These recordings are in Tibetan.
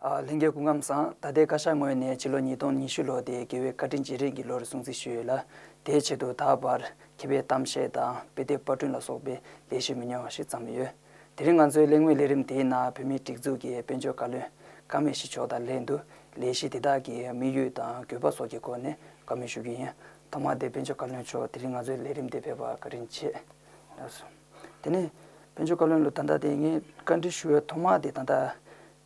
ལྷན་རྒྱས་སྐུ་ཁམས་བཟང། ད་ལྟའི་བཀའ་ཤག་ངོས་ནས་ཕྱི་ལོ་ཉིས་སྟོང་ཉི་ཤུ་ལོ་དེ་དགེ་བའི་བཀའ་དྲིན་རྗེས་རིང་གི་ལོ་རུ་སྲུང་བརྩི་ཞུས་ཡོད་ལ། དེའི་ཆེད་དུ་ད་བར་མཁས་པའི་གཏམ་བཤད་དང་དཔེ་དེབ་དཔར་བསྐྲུན་ལ་སོགས་པའི་ལས་གཞི་མི་ཉུང་བ་ཞིག་བརྩམས་ཡོད། དེ་རིང་ང་ཚོའི་གླེང་མོལ་ལས་རིམ་དེའི་ནང་བོད་མིའི་སྒྲིག་འཛུགས་ཀྱི་དཔལ་འབྱོར་བཀའ་བློན་ཀ་མེ་ཤི་མཆོག་དང་ལྷན་དུ་ལས་གཞི་དེ་དག་གི་དམིགས་ཡུལ་དང་དགོས་པ་སོགས་ཀྱི་སྐོར་ནས་བཀའ་མོལ་ཞུ་རྒྱུ་ཡིན། ཐོག་མར་དེ་དཔོན་ཆེན་བཀའ་བློན་མཆོག་དེ་རིང་ང་ཚོའི་ལས་རིམ་འདི་ཕེབས་པར་བཀའ་དྲིན་ཆེ། དེ་ནས་དཔོན་ཆེན་བཀའ་བློན་ལོ་ད་ལྟ་དེ་ངས་བཀའ་འདྲི་ཞུ་བའི་ཐོག་མ་དེ་ད་ལྟ་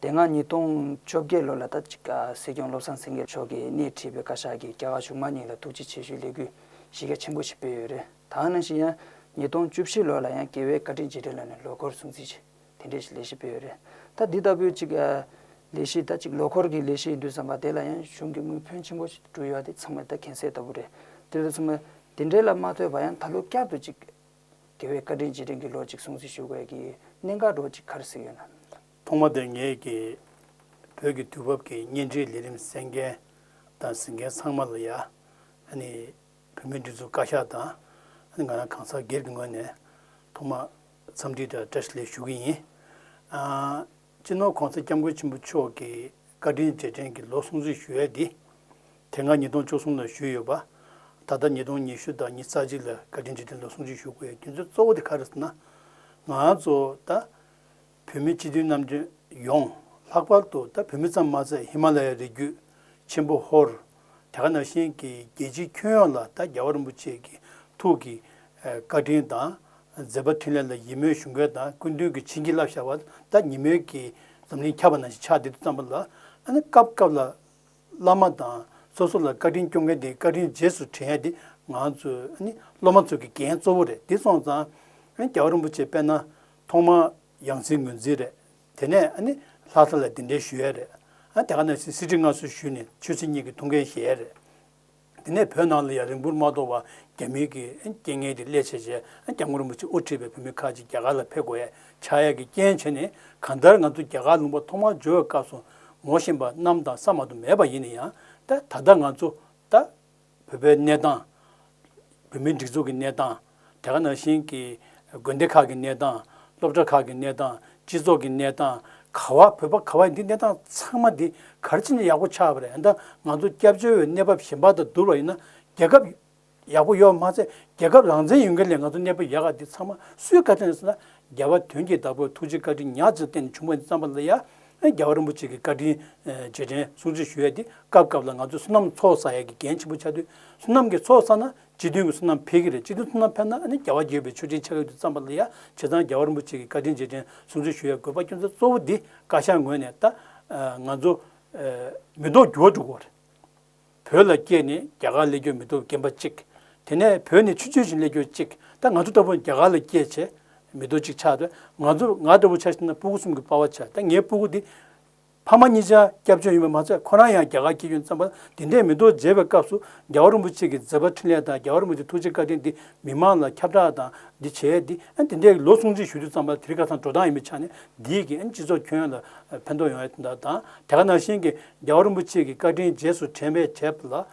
དེ་སྔ་ཉིས་སྟོང་བཅོ་བརྒྱད་ལོ་ལ་ད་ཅིག་སྲིད་སྐྱོང་བློ་བཟང་སེང་གེ་མཆོག་གིས་སྣེ་ཁྲིད་པའི་བཀའ་ཤག་གིས་རྒྱ་གར་གཞུང་མང་གཉིས་ལ་ཐུགས་རྗེ་ཆེ་ཞུའི་ལས་འགུལ་གཞི་རྒྱ་ཆེན་པོ་ཞིག་སྤེལ་ཡོད་རེད་ད་ནང་བཞིན་ཡང་ཉིས་སྟོང་བཅུ་བཞི་ལོ་ལ་ཡང་རྒྱལ་བའི་བཀའ་དྲིན་རྗེས་དྲན་ལ་ནས་ལོ་འཁོར་སྲུང་བརྩི་བྱེད། དེ་འདྲའི་ཞིག་ལས་གཞི་སྤེལ་ཡོད་རེད་ད། འདི་ལྟ་བུའི་ཅིག་ལས་གཞི་ད་ཅིག་ལོ་འཁོར་གྱི་ལས་གཞི་ཡིན་དུས་བསམ་པ་དེ་ལ་ཡང་གཞུང་གི་དངུལ་ཕོན་ཆེན་པོ་ཞིག་བསྐྲུན་ཡོད་དེ་ཚང་མས་ད་གན་ཟེར་ལྟ་བུ་རེད། དེ་ལས་ཚང་མས་དེ་འདྲའི་ལ་མ་ལྟོས་པ་ཡང་ད་ལོ་བསྐྱར་དུ་ཅིག། དགེ་བའི་བཀའ་དྲིན་རྗེས་དྲན་གྱི་ལོ་ཅིག་སྲུང་བརྩི་ཞུ་དགོས་ཀྱི་གནད་འགག་སྒྲོ་ཅིག་གར་གཟིགས་ཡོད་ན། ཐོག་མ་དེར་ངེད་ཀྱི་བོད་ཀྱི་དུས་བབ་ཀྱི་བརྙན་འཕྲིན་ལས་རིམ་གསན་མཁན་དང་གཟིགས་མཁན་ཚང་མ་ལ་ཡང། བོད་མིའི་སྒྲིག་འཛུགས་བཀའ་ཤག་དང། ང་རང་གང་ཟག་སྒེར་གྱི་ངོས་ནས་ཐོག་མ། འཚམས་འདྲི་དང་བཀྲ་ཤིས་ལན་ཞུ་གི་ཡིན། སྤྱིར་ནོར་གོང་ས་སྐྱབས་མགོན་ཆེན་པོ་མཆོག་གི་བཀའ་དྲིན་རྗེས་དྲན་གྱི་ལོ་སྲུང་གཙི་ཞུ་ཡས་འདི། དེ་སྔ་ཉིས་སྟོང་བཅུ་གསུམ་ལ་ཞུས་ཡོད་པ། ད་ལྟ་ཉིས་སྟོང་ཉི་ཤུ་དང་ཉིས་རྩ་གཅིག་ལ་བཀའ་དྲིན་རྗེས་དྲན་ལོ་སྲུང་གཙི་ཞུ་དགོས་ཡའི་རྒྱུ་མཚན་གཙོ་བོ་དེ་ག་རེད་ཟེར་ན། ང་ཚོ་ད་བོད་མི་སྤྱི་མཐུན་རྣམ་དཔྱོད་ཡོངས་ལྷག་པར་དུ་ད་བོད་མི་ཙམ་མ་ཟད་ཧི་མ་ལ་ཡའི་རི་རྒྱུད་ཆེན་པོ་ཧོར། དེ་ག་ནང་བཞིན་གྱི་རྒྱལ་སྤྱིའི་ཁྱོན་ཡོངས་ལ་ད་རྒྱ་བ་རིན་པོ་ཆེ་གི་ཐུགས་ཀྱི་བཀའ་དྲིན་དང་མཛད་པ་མཐུན་ལས་ལ་ཡིད་སྨོན་ཞུ་འགོད་དང་སྐུ་མདུན་གྱི་བྱིན་གྱིས་རླབས་ཤར་བ་ད་ཉིན་མོའི་གི་འཛམ་གླིང་ཁྱབ་པ་ནང་བཞིན་ཆགས་འདི་དུ་བརྩམས་པ་ལ་ཨ་ནི་སྐབས་སྐབས་ལ་བླ་མ་དང་སོ་སོ་ལ་བཀའ་དྲིན་སྐྱོང་མཁན་དེའི་བཀའ་དྲིན་རྗེས་སུ་དྲན་ཡ་དེ་ང་ཚོ་ཨ་ནི་སློབ་མ་ཚོ་གི་འགན་གཙོ་བོ་རེད་འདི་སོང་ཙང་ཨ་ནི་རྒྱ་བ་རིན་པོ་ཆེ་དཔལ་ན་ཐོག་མ་ཡང་རྩིས་ངོས་འཛིན་རེད། དེ་ནས་ཨ་ནི་ལྷ་ས་ལ་འདི་འདྲའི་ཞུ་ཡས་རེད། ཨ་དེ་ག་ནས་སྲིད་སྤྱི་ངྷ་སུ་ཞུས་ནས་ཆོས་སྲིད་གཉིས་ཀྱི་ཐུགས་འགན་བཞེས་ཡས་རེད། དེ་ནས་བོད་ནང་ལ་ཡང་རིང་པོར་མ་ཐོག་བར་རྒྱ་མིའི་གི་རྐྱེན་ངན་གྱི་སླད་བྱས་བྱས་རྒྱ་མགོ་རིན་པོ་ཆེ་དབུ་ཁྲིད་པའི་བོད་མི་ཁག་ཅིག་རྒྱ་གར་ལ་ཕེབས་དགོས་ཡས་ཆགས་ཡས་གྱི་རྐྱེན་བྱས་ནས་གང་ལྟར་ང་ཚོ་རྒྱ་གར་ལུང་པ་ཐོག་མར་འབྱོར་བའི་སྐབས་སུ་ངོ་ཤེས་པ་རྣམས་དང་ས་མ་དུ་མས་པ་ཡིན་ནས་ཡང་ད་ད་ལྟ་ང་ཚོ་ད་བོད་པའི་གནས་སྟངས། བོད་མིའི་སྒྲིག་འཛུགས་ཀྱི་གནས་སྟངས། དེ་ག་ནང་བཞིན་གྱི་དགོན་སྡེ་ཁག་གི་གནས་སྟངས། སློབ་གྲྭ་ཁག་གི་གནས་སྟངས། སྤྱི་ཚོགས་ཀྱི་གནས་སྟངས། ག་བ་བོད་པ་ག་བ་ཡིན་འདི་གནས་སྟངས་ཚང་མ་འདི་གར་ཕྱིན་ན་ཡག་པོ་ཆགས་པ་རེད་ཨ་མདའ་ང་ཚོ་སྐྱབས་བཅོལ་བའི་གནས་བབ་ཞན་པ་དང་བསྡུར་བ་ཡིན་ན་རྒྱལ་ཁབ་ཡག་པོ་ཡོད་མ་ཚད་རྒྱལ་ཁབ་རང་བཙན་ཡོད་མཁན་ལས་ང་ཚོ་གནས་བབ་ཡག་ག་འདི་ཚང་མ་སུའི་བཀའ་དྲིན་རེད་ཟེར་ན་རྒྱལ་བ་དོན་གྱི་བདག་པོ་ཐུགས་རྗེ་བཀའ་དྲིན་ཉག་ཅིག་བསྟན་ནས་བྱུང་བ་འདི་རྩམ་པ་ལ་ཡ་རྒྱལ་བ་རིན་པོ་ཆེ་གི་བཀའ་དྲིན་རྗེས་དྲན་སྲུང་བརྩི་ཞུ་ཡས་དེ་སྐབས་སྐབས་ལ་ང་ཚོས་སོ་ནམ་འཚོགས་ས་ཡས་ཀྱི་འགན་ཆེན་པོ་ཆགས་དུས་སོ་ནམ་གྱི་འཚོགས་ས་ན་སྤྱི་མཐུན་གྱི་སོ་ནམ་འཕེལ་གྱི་རེད་སྤྱི་མཐུན་སོ་ནམ་འཕེལ་ན་རྒྱལ་བ་འགྱོད་པའི་ཆོས་ཆེན་ཆགས་ཀྱི་འདུག་བརྩམས་པ་ལ་ཡ་བྱེད་ཙང་རྒྱལ་བ་རིན་པོ་ཆེ་གི་བཀའ་དྲིན་རྗེས་དྲན་སྲུང་བརྩི་ཞུ་ཡས་དགོས་པ་སྐྱོན་ཚ་གཙོ་བོ་འདི་བཀའ་ཤག་ངོས་ནས་ད་ང་ཚོ་མི་ལྡོག་འགྱུར་བ་འགྲོ་དགོས་པ་རེད། བོད་ལ་སྐྱེས་ནས་རྒྱ་གར་སླེབས་རྒྱུ་མི་འདུག་རྒན་པ་གཅིག། དེ་ནས་བོད་ནས་ཆུ་ཚོད་བཞིན་སླེབས་རྒྱུ་གཅིག་ད་ང་ཚོ་ལྟ་བུ་རྒྱ་གར་ལ་སྐྱེས་བྱས་མི་འདུག་གཅིག་ཆགས་ང་ཚོ་ང་ལྟ་བུ་ཆ་ཤས་ན་སྤུ་གུ་གསུམ་གྱི་དཔའ་བ་ཆགས་ད་ངའི་སྤུ་གུ་འདི། ཕ་མ་གཉིས་ཆ་སྐྱབས་བཅོལ་ཡིན་པ་མ་ཚད་ཁོ་རང་ཡང་རྒྱ་གར་སྐྱེས་རྒྱུ་བརྩམས་པ་དེ་འདྲས་མི་འདུག་མཇལ་བའི་སྐབས་སུ་རྒྱལ་བ་རིན་པོ་ཆེ་གི་མཛད་པ་འཕྲིན་ལས་དང་རྒྱལ་བ་རིན་པོ་ཆེ་ཐུགས་རྗེ་བཀའ་དྲིན་འདི་མི་དམངས་ལ་ཁྱབ་བསྒྲགས་དང་འདི་བྱས་འདི་འདི་འདྲས་ལོ་སྲུང་བརྩི་ཞུ་རྒྱུ་བརྩམས་པ་དེ་རིགས་ཁ་སང་འགྲོ་སྟངས་ཡིན་པའི་ཆ་ནས་འདིས་གིས་སྤྱི་ཚོགས་ཁྱོན་ཡོངས་ལ་ཕན་ཐོགས་ཡོང་ཡ་དེ་འདྲ་དང་དེ་ག་ནང་བཞིན་གྱི་རྒྱལ་བ་རིན་པོ་ཆེ་གི་བཀའ་དྲིན་རྗེས་སུ་དྲན་པའི་བྱས་པ་ལ།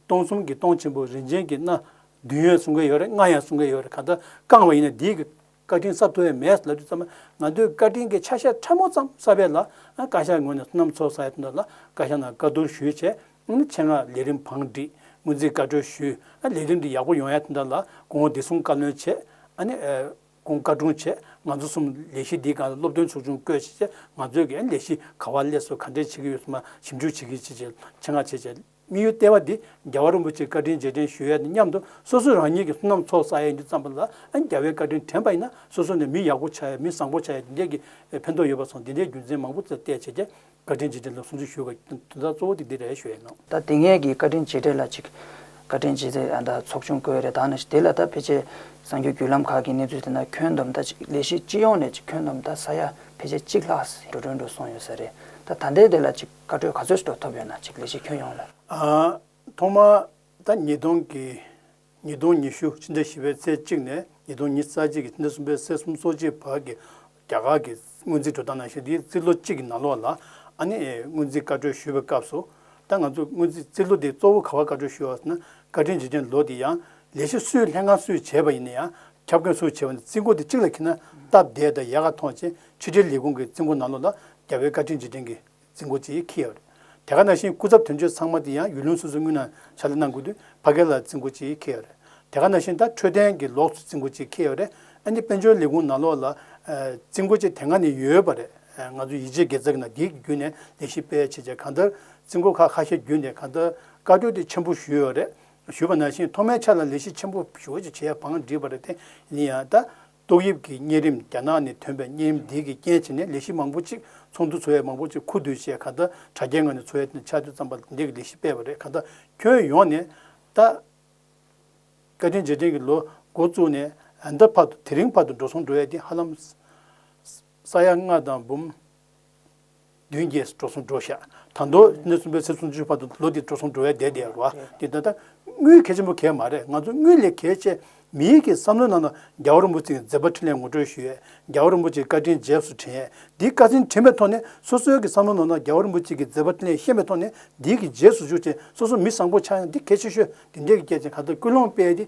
སྟོང་གསུམ་གྱི་སྟོང་ཆེན་པོ་རིན་ཆེན་གྱི་སྣ། བདུན་ཡོད་གསུང་གི་ཡོད་རེད་ལྔ་ཡང་གསུང་གི་ཡོད་རེད་གང་ལྟར་བསྐངས་བ་ཡིན་ན་འདིའི། བཀའ་དྲིན་གསབ་ཐུབ་ཡ་མེད་ལབ་རྒྱུ་ཙམ་ན་ང་ཚོའི་བཀའ་དྲིན་གྱི་ཆ་ཤས་ཕྲ་མོ་ཙམ་གསབ་ཡས་ལ། བཀའ་ཤག་ངོས་ནས་སོ་ནམ་ཚོགས་ས་ཡ་དོན་དག་ལ་བཀའ་ཤག་ནང་བཀའ་བསྡུར་ཞུས་བྱས། མཆན་སྔགས་ལས་རིམ་བང་བསྒྲིགས་སྔོན་རྩིས་བཀའ་འཁྲོལ་ཞུས། ལས་རིམ་འདི་ཡག་པོ་ཡོང་ཡ་དོན་དག་ལ་དགོངས་འོ་བདེ་སྲུང་བཀའ་བློན་ཆེ། ཀུན་དགའ་དྲུང་ཆེ་ང་ཚོ་གསུམ་ལས་གཞི་འདིའི་སྒང་ལ་སློབ་སྟོན་ཚོགས་ཆུང་བསྐོས་བྱས་རྗེས་ང་ཚོས་ཀྱི་ལས་གཞི་ག་བ་ལས་སུ་ག་འདྲས་བྱེད་ཀྱི་ཡོད་སོགས་ཞིབ་འཇུག་བྱེད་ཀྱི་བྱེད་ཅེས་ཆེད་མངགས་བྱས་རྗེས་དམིགས་ཡུལ་ལྟེ་བ་འདི་རྒྱལ་བ་རིན་པོ་ཆེའི་བཀའ་དྲིན་རྗེས་དྲན་ཞུ་ཡས་དང་མཉམ་དུ་སོ་སོས་རང་ཉིད་ཀྱི་སོ་ནམ་ཚོགས་བསགས་ཡས་ཀྱི་བརྩམས་པ་ལ་རྒྱལ་བའི་བཀའ་དྲིན་དྲན་པ་ཡིན་ན་སོ་སོ་ནས་མི་ཡག་པོ་ཆགས་ཡས་མི་བཟང་པོ་ཆགས་ཡས་འདི་འདྲས་ཀྱི་ཕན་ཐོགས་ཡོད་པ་སོགས་འདི་འདྲའི་རྒྱུ་མཚན་མང་པོ་བརྩད་བྱས་རྗེས་བཀའ་དྲིན་རྗེས་དྲན་ལ་སུན་གཙི་ཞུ་བའི་དོན་དག་གཙོ་བོ་དེ་འདི་རེད་ཞུ་ཡས་ནོ། ད་དེ་སྔའི་གི་བཀའ་དྲིན་རྗེས་དྲན་ལ་ཅིག། བཀའ་དྲིན་རྗེས་དྲན་ད་ཚོགས་ཆུང་བསྐོས་རེད་ད་ནི་དེ་ལ་ད་ཕལ་ཆེར་གསང་རྒྱུ་བརྒྱུད་ལམ་ཁག་གི་གནས་ཚུལ་དེ་འདྲ་ཁྱོན་བསྡོམས་ད་ཅིག་ལས་གཞི་སྤྱི་ཡོངས་ནས་ཅིག་ཁྱོན་བསྡོམས་ད་ས་ཡ་ཕལ་ཆེར་གཅིག་ལྷག་ཟིག་འགྲོ་གྲོན་འགྲོ་སོང་ཡོད་ས་རེད་ད་ད་ལྟའི་དེ་ལ་ཅིག་བཀའ་འཁྲོལ་ག་ཚོད་ཟིག་འགྲོ་ཐུབ་ཡོད་ན་ཅིག་ལས་གཞི་ཁྱོན་ཡོངས་ལ། ཐོག་མར་ད་ཉིས་སྟོང་གི་ཉིས་སྟོང་ཉི་ཤུ་ཕྱི་ཟླ་བཞི་པའི་ཚེས་གཅིག་ནས་ཉིས་སྟོང་ཉིས་རྩ་གཅིག་གི་ཕྱི་ཟླ་གསུམ་པའི་ཚེས་གསུམ་སོ་གཅིག་བར་གྱི་རྒྱ་གར་གྱི་སྔོན་རྩིས་འགྲོ་སྟངས་ནང་བཞིན་དེའི་རྩིས་ལོ་གཅིག་གི་ནང་ལོགས་ལ་ཨ་ནེ་ཨའི་སྔོན་རྩིས་བཀའ་གྲོས་ཞུས་པའི་སྐབས་སུ། ད་ང་ཚོས་སྔོན་རྩིས་རྩིས་ལོ་དེ་གཙོ་བོ་ག་བར་བཀའ་གྲོས་ཞུས་བ་ཟེར་ན་བཀའ་དྲིན་རྗེས་དྲན་ལོ་དེ་ཡང་ལས་གཞི་སུས་ལྷན་ཁང་སུས་བྱས་པ་ཡིན་ན་ཡང་ཁྱབ་མཁན་སུས་བྱས་པ་ནི་རྩིས་འགོ་དེ་གཅིག་ལ་ཁེལ་ན་སྟབས་བདེ་དང་ཡལ་ག་མཐོང་ཕྱིན་ཕྱི་དྲིལ་ལས་ཁུངས་ཀྱི་རྩིས་འགོ་ནང་ལོགས་ལ་རྒྱ་བལ་བཀའ་དྲིན་རྗེས་དྲན་གྱི་རྫིང་གོ་ཅེས་ཁེ་ཡོད་རེད། དེ་ག་ནང་བཞིན་སྐུ་ཚབ་དོན་གཅོད་ཚང་མ་དེ་ཡང་ཡུལ་ལུང་སོ་སོའི་དངུལ་ནང་ཕྱག་ལས་གནང་དགོས་དུས་ཕ་གི་ལ་རྫིང་གོ་ཅེས་ཁེ་ཡོད་རེད། དེ་ག་ནང་བཞིན་ད་འཕྲོད་བསྟེན་གྱི་ལོགས་སུ་རྫིང་གོ་ཅེས་ཁེ་ཡོད་རེད། ཨ་ནི་དཔལ་འབྱོར་ལས་ཁུངས་ནང་ལོགས་ལ། རྫིང་གོ་ཅེས་དེ་སྔ་ནས་ཡོད་པ་རེད། ང་ཚོ་ཡིད་ཆེས་དགེ་རྩ་གི་ནང་དེའི་བརྒྱུད་ནས་ལས་གཞི་སྤེལ་བྱེད་ཆེད་གང་ལྟར་རྫིང་གོ་ཁག་ཁ་ཤས་བརྒྱུད་ནས་གང་ལྟར་བཀའ་བགྲོས་དེ་ཆེན་པོ་ཞུས་ཡོད་རེད། ཞུས་པ་ནང་བཞིན་ཐོག་མའི་ཆ་ལ་ལས་གཞི་ཆེན་པོ་ཞུ་བ་ཅིག་བྱེད་པའང་འགྲིག་པ་རེད་དེ་ཡིན་ཡང་ད། ཏོག་དབྱིབས་ཀྱི་གཉན་རིམས་རྒྱ་ནག་ནས་ཐོན་པའི་གཉན་རིམས་འདི་གིས་རྐྱེན་བྱས་ནས་ལས་གཞི་མང་པོ་ཅིག་ཚོགས་འདུ་ཚོ་ཡས་མང་པོ་ཅིག་ཁུ་བསྡུ་བྱས་ག་ད་དྲ་རྒྱའི་ངང་ནས་ཚོ་ཡས་ནས་ཕྱག་མཛོད་བརྩམས་པ་འདི་གིས་ལས་གཞི་སྤེལ་བ་རེད་ག་ད་ཁྱོན་ཡོངས་ནས་ད། བཀའ་དྲིན་རྗེས་དྲན་གྱི་ལོ་འགོ་བཙུགས་ནས་ད་བར་དུ་དེ་རིང་བར་དུ་འགྲོ་སོང་འགྲོ་ཡས་འདི་ཧ་ལམ་ས་ཡ་ལྔ་དང་འབུམ། མདུན་བསྐྱེད་སྤྲོ་གསུམ་འགྲོ་བཞག་དང་དུ་གནས་གསུམ་པའི་ཚེས་སུམ་ཅུ་ཆུ་བར་དུ་ལོ་དེའི་སྤྲོ་གསུམ་འགྲོ་བའི་ཟླས་དེ་རུ་དེ་ལྟར་ན་དངུལ་གལ་ཆེན་པོ་གལ་མ་རེད་ང་ཚོ་དངུལ་ལས་གལ་ཆེ། མིའི་གི་བསམ་བློའི་ནང་དུ་རྒྱ་བོ་རིན་པོ་ཆེའི་མཛད་པ་འཕྲིན་ལས་ངོ་སྤྲོད་ཞུས་ཡས་རྒྱ་བོ་རིན་པོ་ཆེའི་བཀའ་དྲིན་རྗེས་སུ་དྲན་ཡས་འདིའི་བཀའ་དྲིན་དྲན་པའི་ཐོག་ནས་སོ་སོའི་གི་བསམ་བློ་ནང་དུ་རྒྱ་བོ་རིན་པོ་ཆེ་གི་མཛད་པ་འཕྲིན་ལས་ཤེས་པའི་ཐོག་ནས་འདིའི་གི་རྗེས་སུ་ཞུགས་ཅེས་སོ་སོ་མི་བཟང་པོ་ཆགས་ཡང་འདི་གལ་ཆེ་ཤོས་འདི་འདྲའི་གི་སྐད་ཆ་ག་ད་ཀུན་སློང་སྤེལ་ཏེ་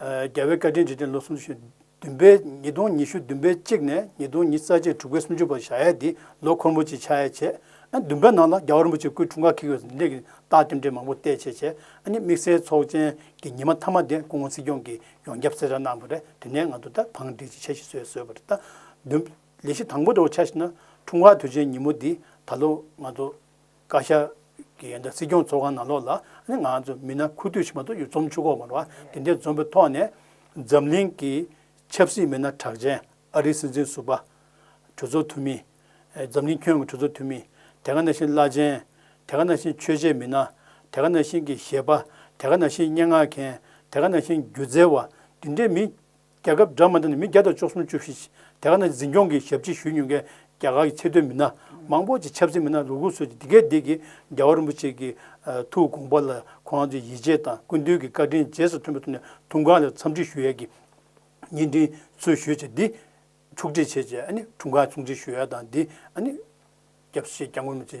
རྒྱལ་བའི་བཀའ་དྲིན་རྗེས་དྲན་ལོ་སུམ་ཅུ་ཞེ་བདུན་པའི་ཉིས་སྟོང་ཉི་ཤུ་བདུན་པའི་གཅིག་ནས་ཉིས་སྟོང་ཉིས་རྩ་གཅིག་དྲུག་པའི་སུམ་ཅུ་བར་བྱ་ཡས་འདིས་ལོ་འཁོར་མོ་ཅིག་ཕྱག་ཡས་བྱས། བདུན་པའི་ནང་ལ་རྒྱ་བ་རིན་པོ་ཆེ་སྐུའི་འཁྲུངས་སྐར་གྱི་གཟི་འདྲེ་གྱི་རྟགས་སྐྱོན་བྲལ་མང་པོ་བལྟས་བྱས་བྱས། དམིགས་བསལ་ཚོགས་ཆེན་གྱི་ཉི་མ་མཐའ་མ་དེ་སྐུ་ངོ་སྲིད་སྐྱོང་གིས་ཡོངས་ཁྱབ་གསལ་བསྒྲགས་གནང་པ་རེད་དེ་ནས་ང་ཚོ་ད་བང་སྒྲིག་ཅིག་བྱེད་བཞིན་བཟོས་བཟོས་པ་རེད། ལས་གཞི་དང་པོ་དེ་འོག་ཆ་ཞིག་ན་འཁྲུངས་སྐར་དུས་ཆེན་ཉིན་མོ་འདི་ད་ལོ་ང་ཚོ། བཀའ་ཤག་གི་སྲིད་སྐྱོང་ཚོགས་ཁང་ནང་ལོགས་ལ་ནི་ང་ཚོ་མི་སྣ་ཁུ་བསྡུ་བྱེད་མ་ཐུབ་ཡོད་རྩོམ་ཆུ་ཁོག་མར་བ་དེ་འདྲའི་འཛོམས་པའི་ཐོག་ནས། འཛམ་གླིང་གི་ཆབ་སྲིད་མི་སྣ་གྲགས་ཅན་ཨ་རིའི་སྲིད་འཛིན་ཟུར་པ། གྲོས་ཚོགས་འཐུས་མི། འཛམ་གླིང་ཁྱོན་གྱི་གྲོས་ཚོགས་འཐུས་མི། དེ་ག་ནང་བཞིན་བླ་ཆེན། དེ་ག་ནང་བཞིན་ཆོས་བྱེད་མི་སྣ། དེ་ག་ནང་བཞིན་གྱི་གཞས་པ། དེ་ག་ནང་བཞིན་སྙན་ངག་མཁན། དེ་ག་ནང་བཞིན་སྒྱུ་རྩལ་བ། དེ་འདྲའི་མི། རྒྱལ་ཁབ་དྲ་མ་འདི་ནི་མི་བརྒྱ་དང་བཅུ་སུམ་ཅུ་བཞི་དེ་ག་ནང་འཛིན་སྐྱོང་གི་ཞབས་ཕྱི་ཞུས་མྱོང་མཁན་རྒྱ་གར་གྱི་ཆེ་མཐོའི་མི་སྣ་མང་པོ་ཅིག་ཆབ་སྲིད་མི་སྣ་ལུག་ལུག་ཚོས་ཀྱིས་འདི་གའི་འདི་གའི་རྒྱལ་བ་རིན་པོ་ཆེ་གི་ཐུགས་དགོངས་པ་ལ་ཁོང་ཚོའི་ཡིད་ཆེས་དང་སྐུ་མདུན་གྱི་བཀའ་དྲིན་རྗེས་སུ་མཐུན་པའི་ཐོག་ནས་དུང་ཁང་ལ་འཚམས་འདྲི་ཞུ་ཡས་ཀྱི་བརྙན་འཕྲིན་འཚོལ་ཞུས་བྱས་འདི། ཕྱུགས་འབྲེལ་བྱས་རྗེས་ཨ་ནི་དྲུང་ཁང་ཕྱུགས་འབྲེལ་ཞུ་ཡས་དང་འདི་ཨ་ནི། སྐྱབས་སེ་སྐྱབས་ངོ་མི་ཚེ་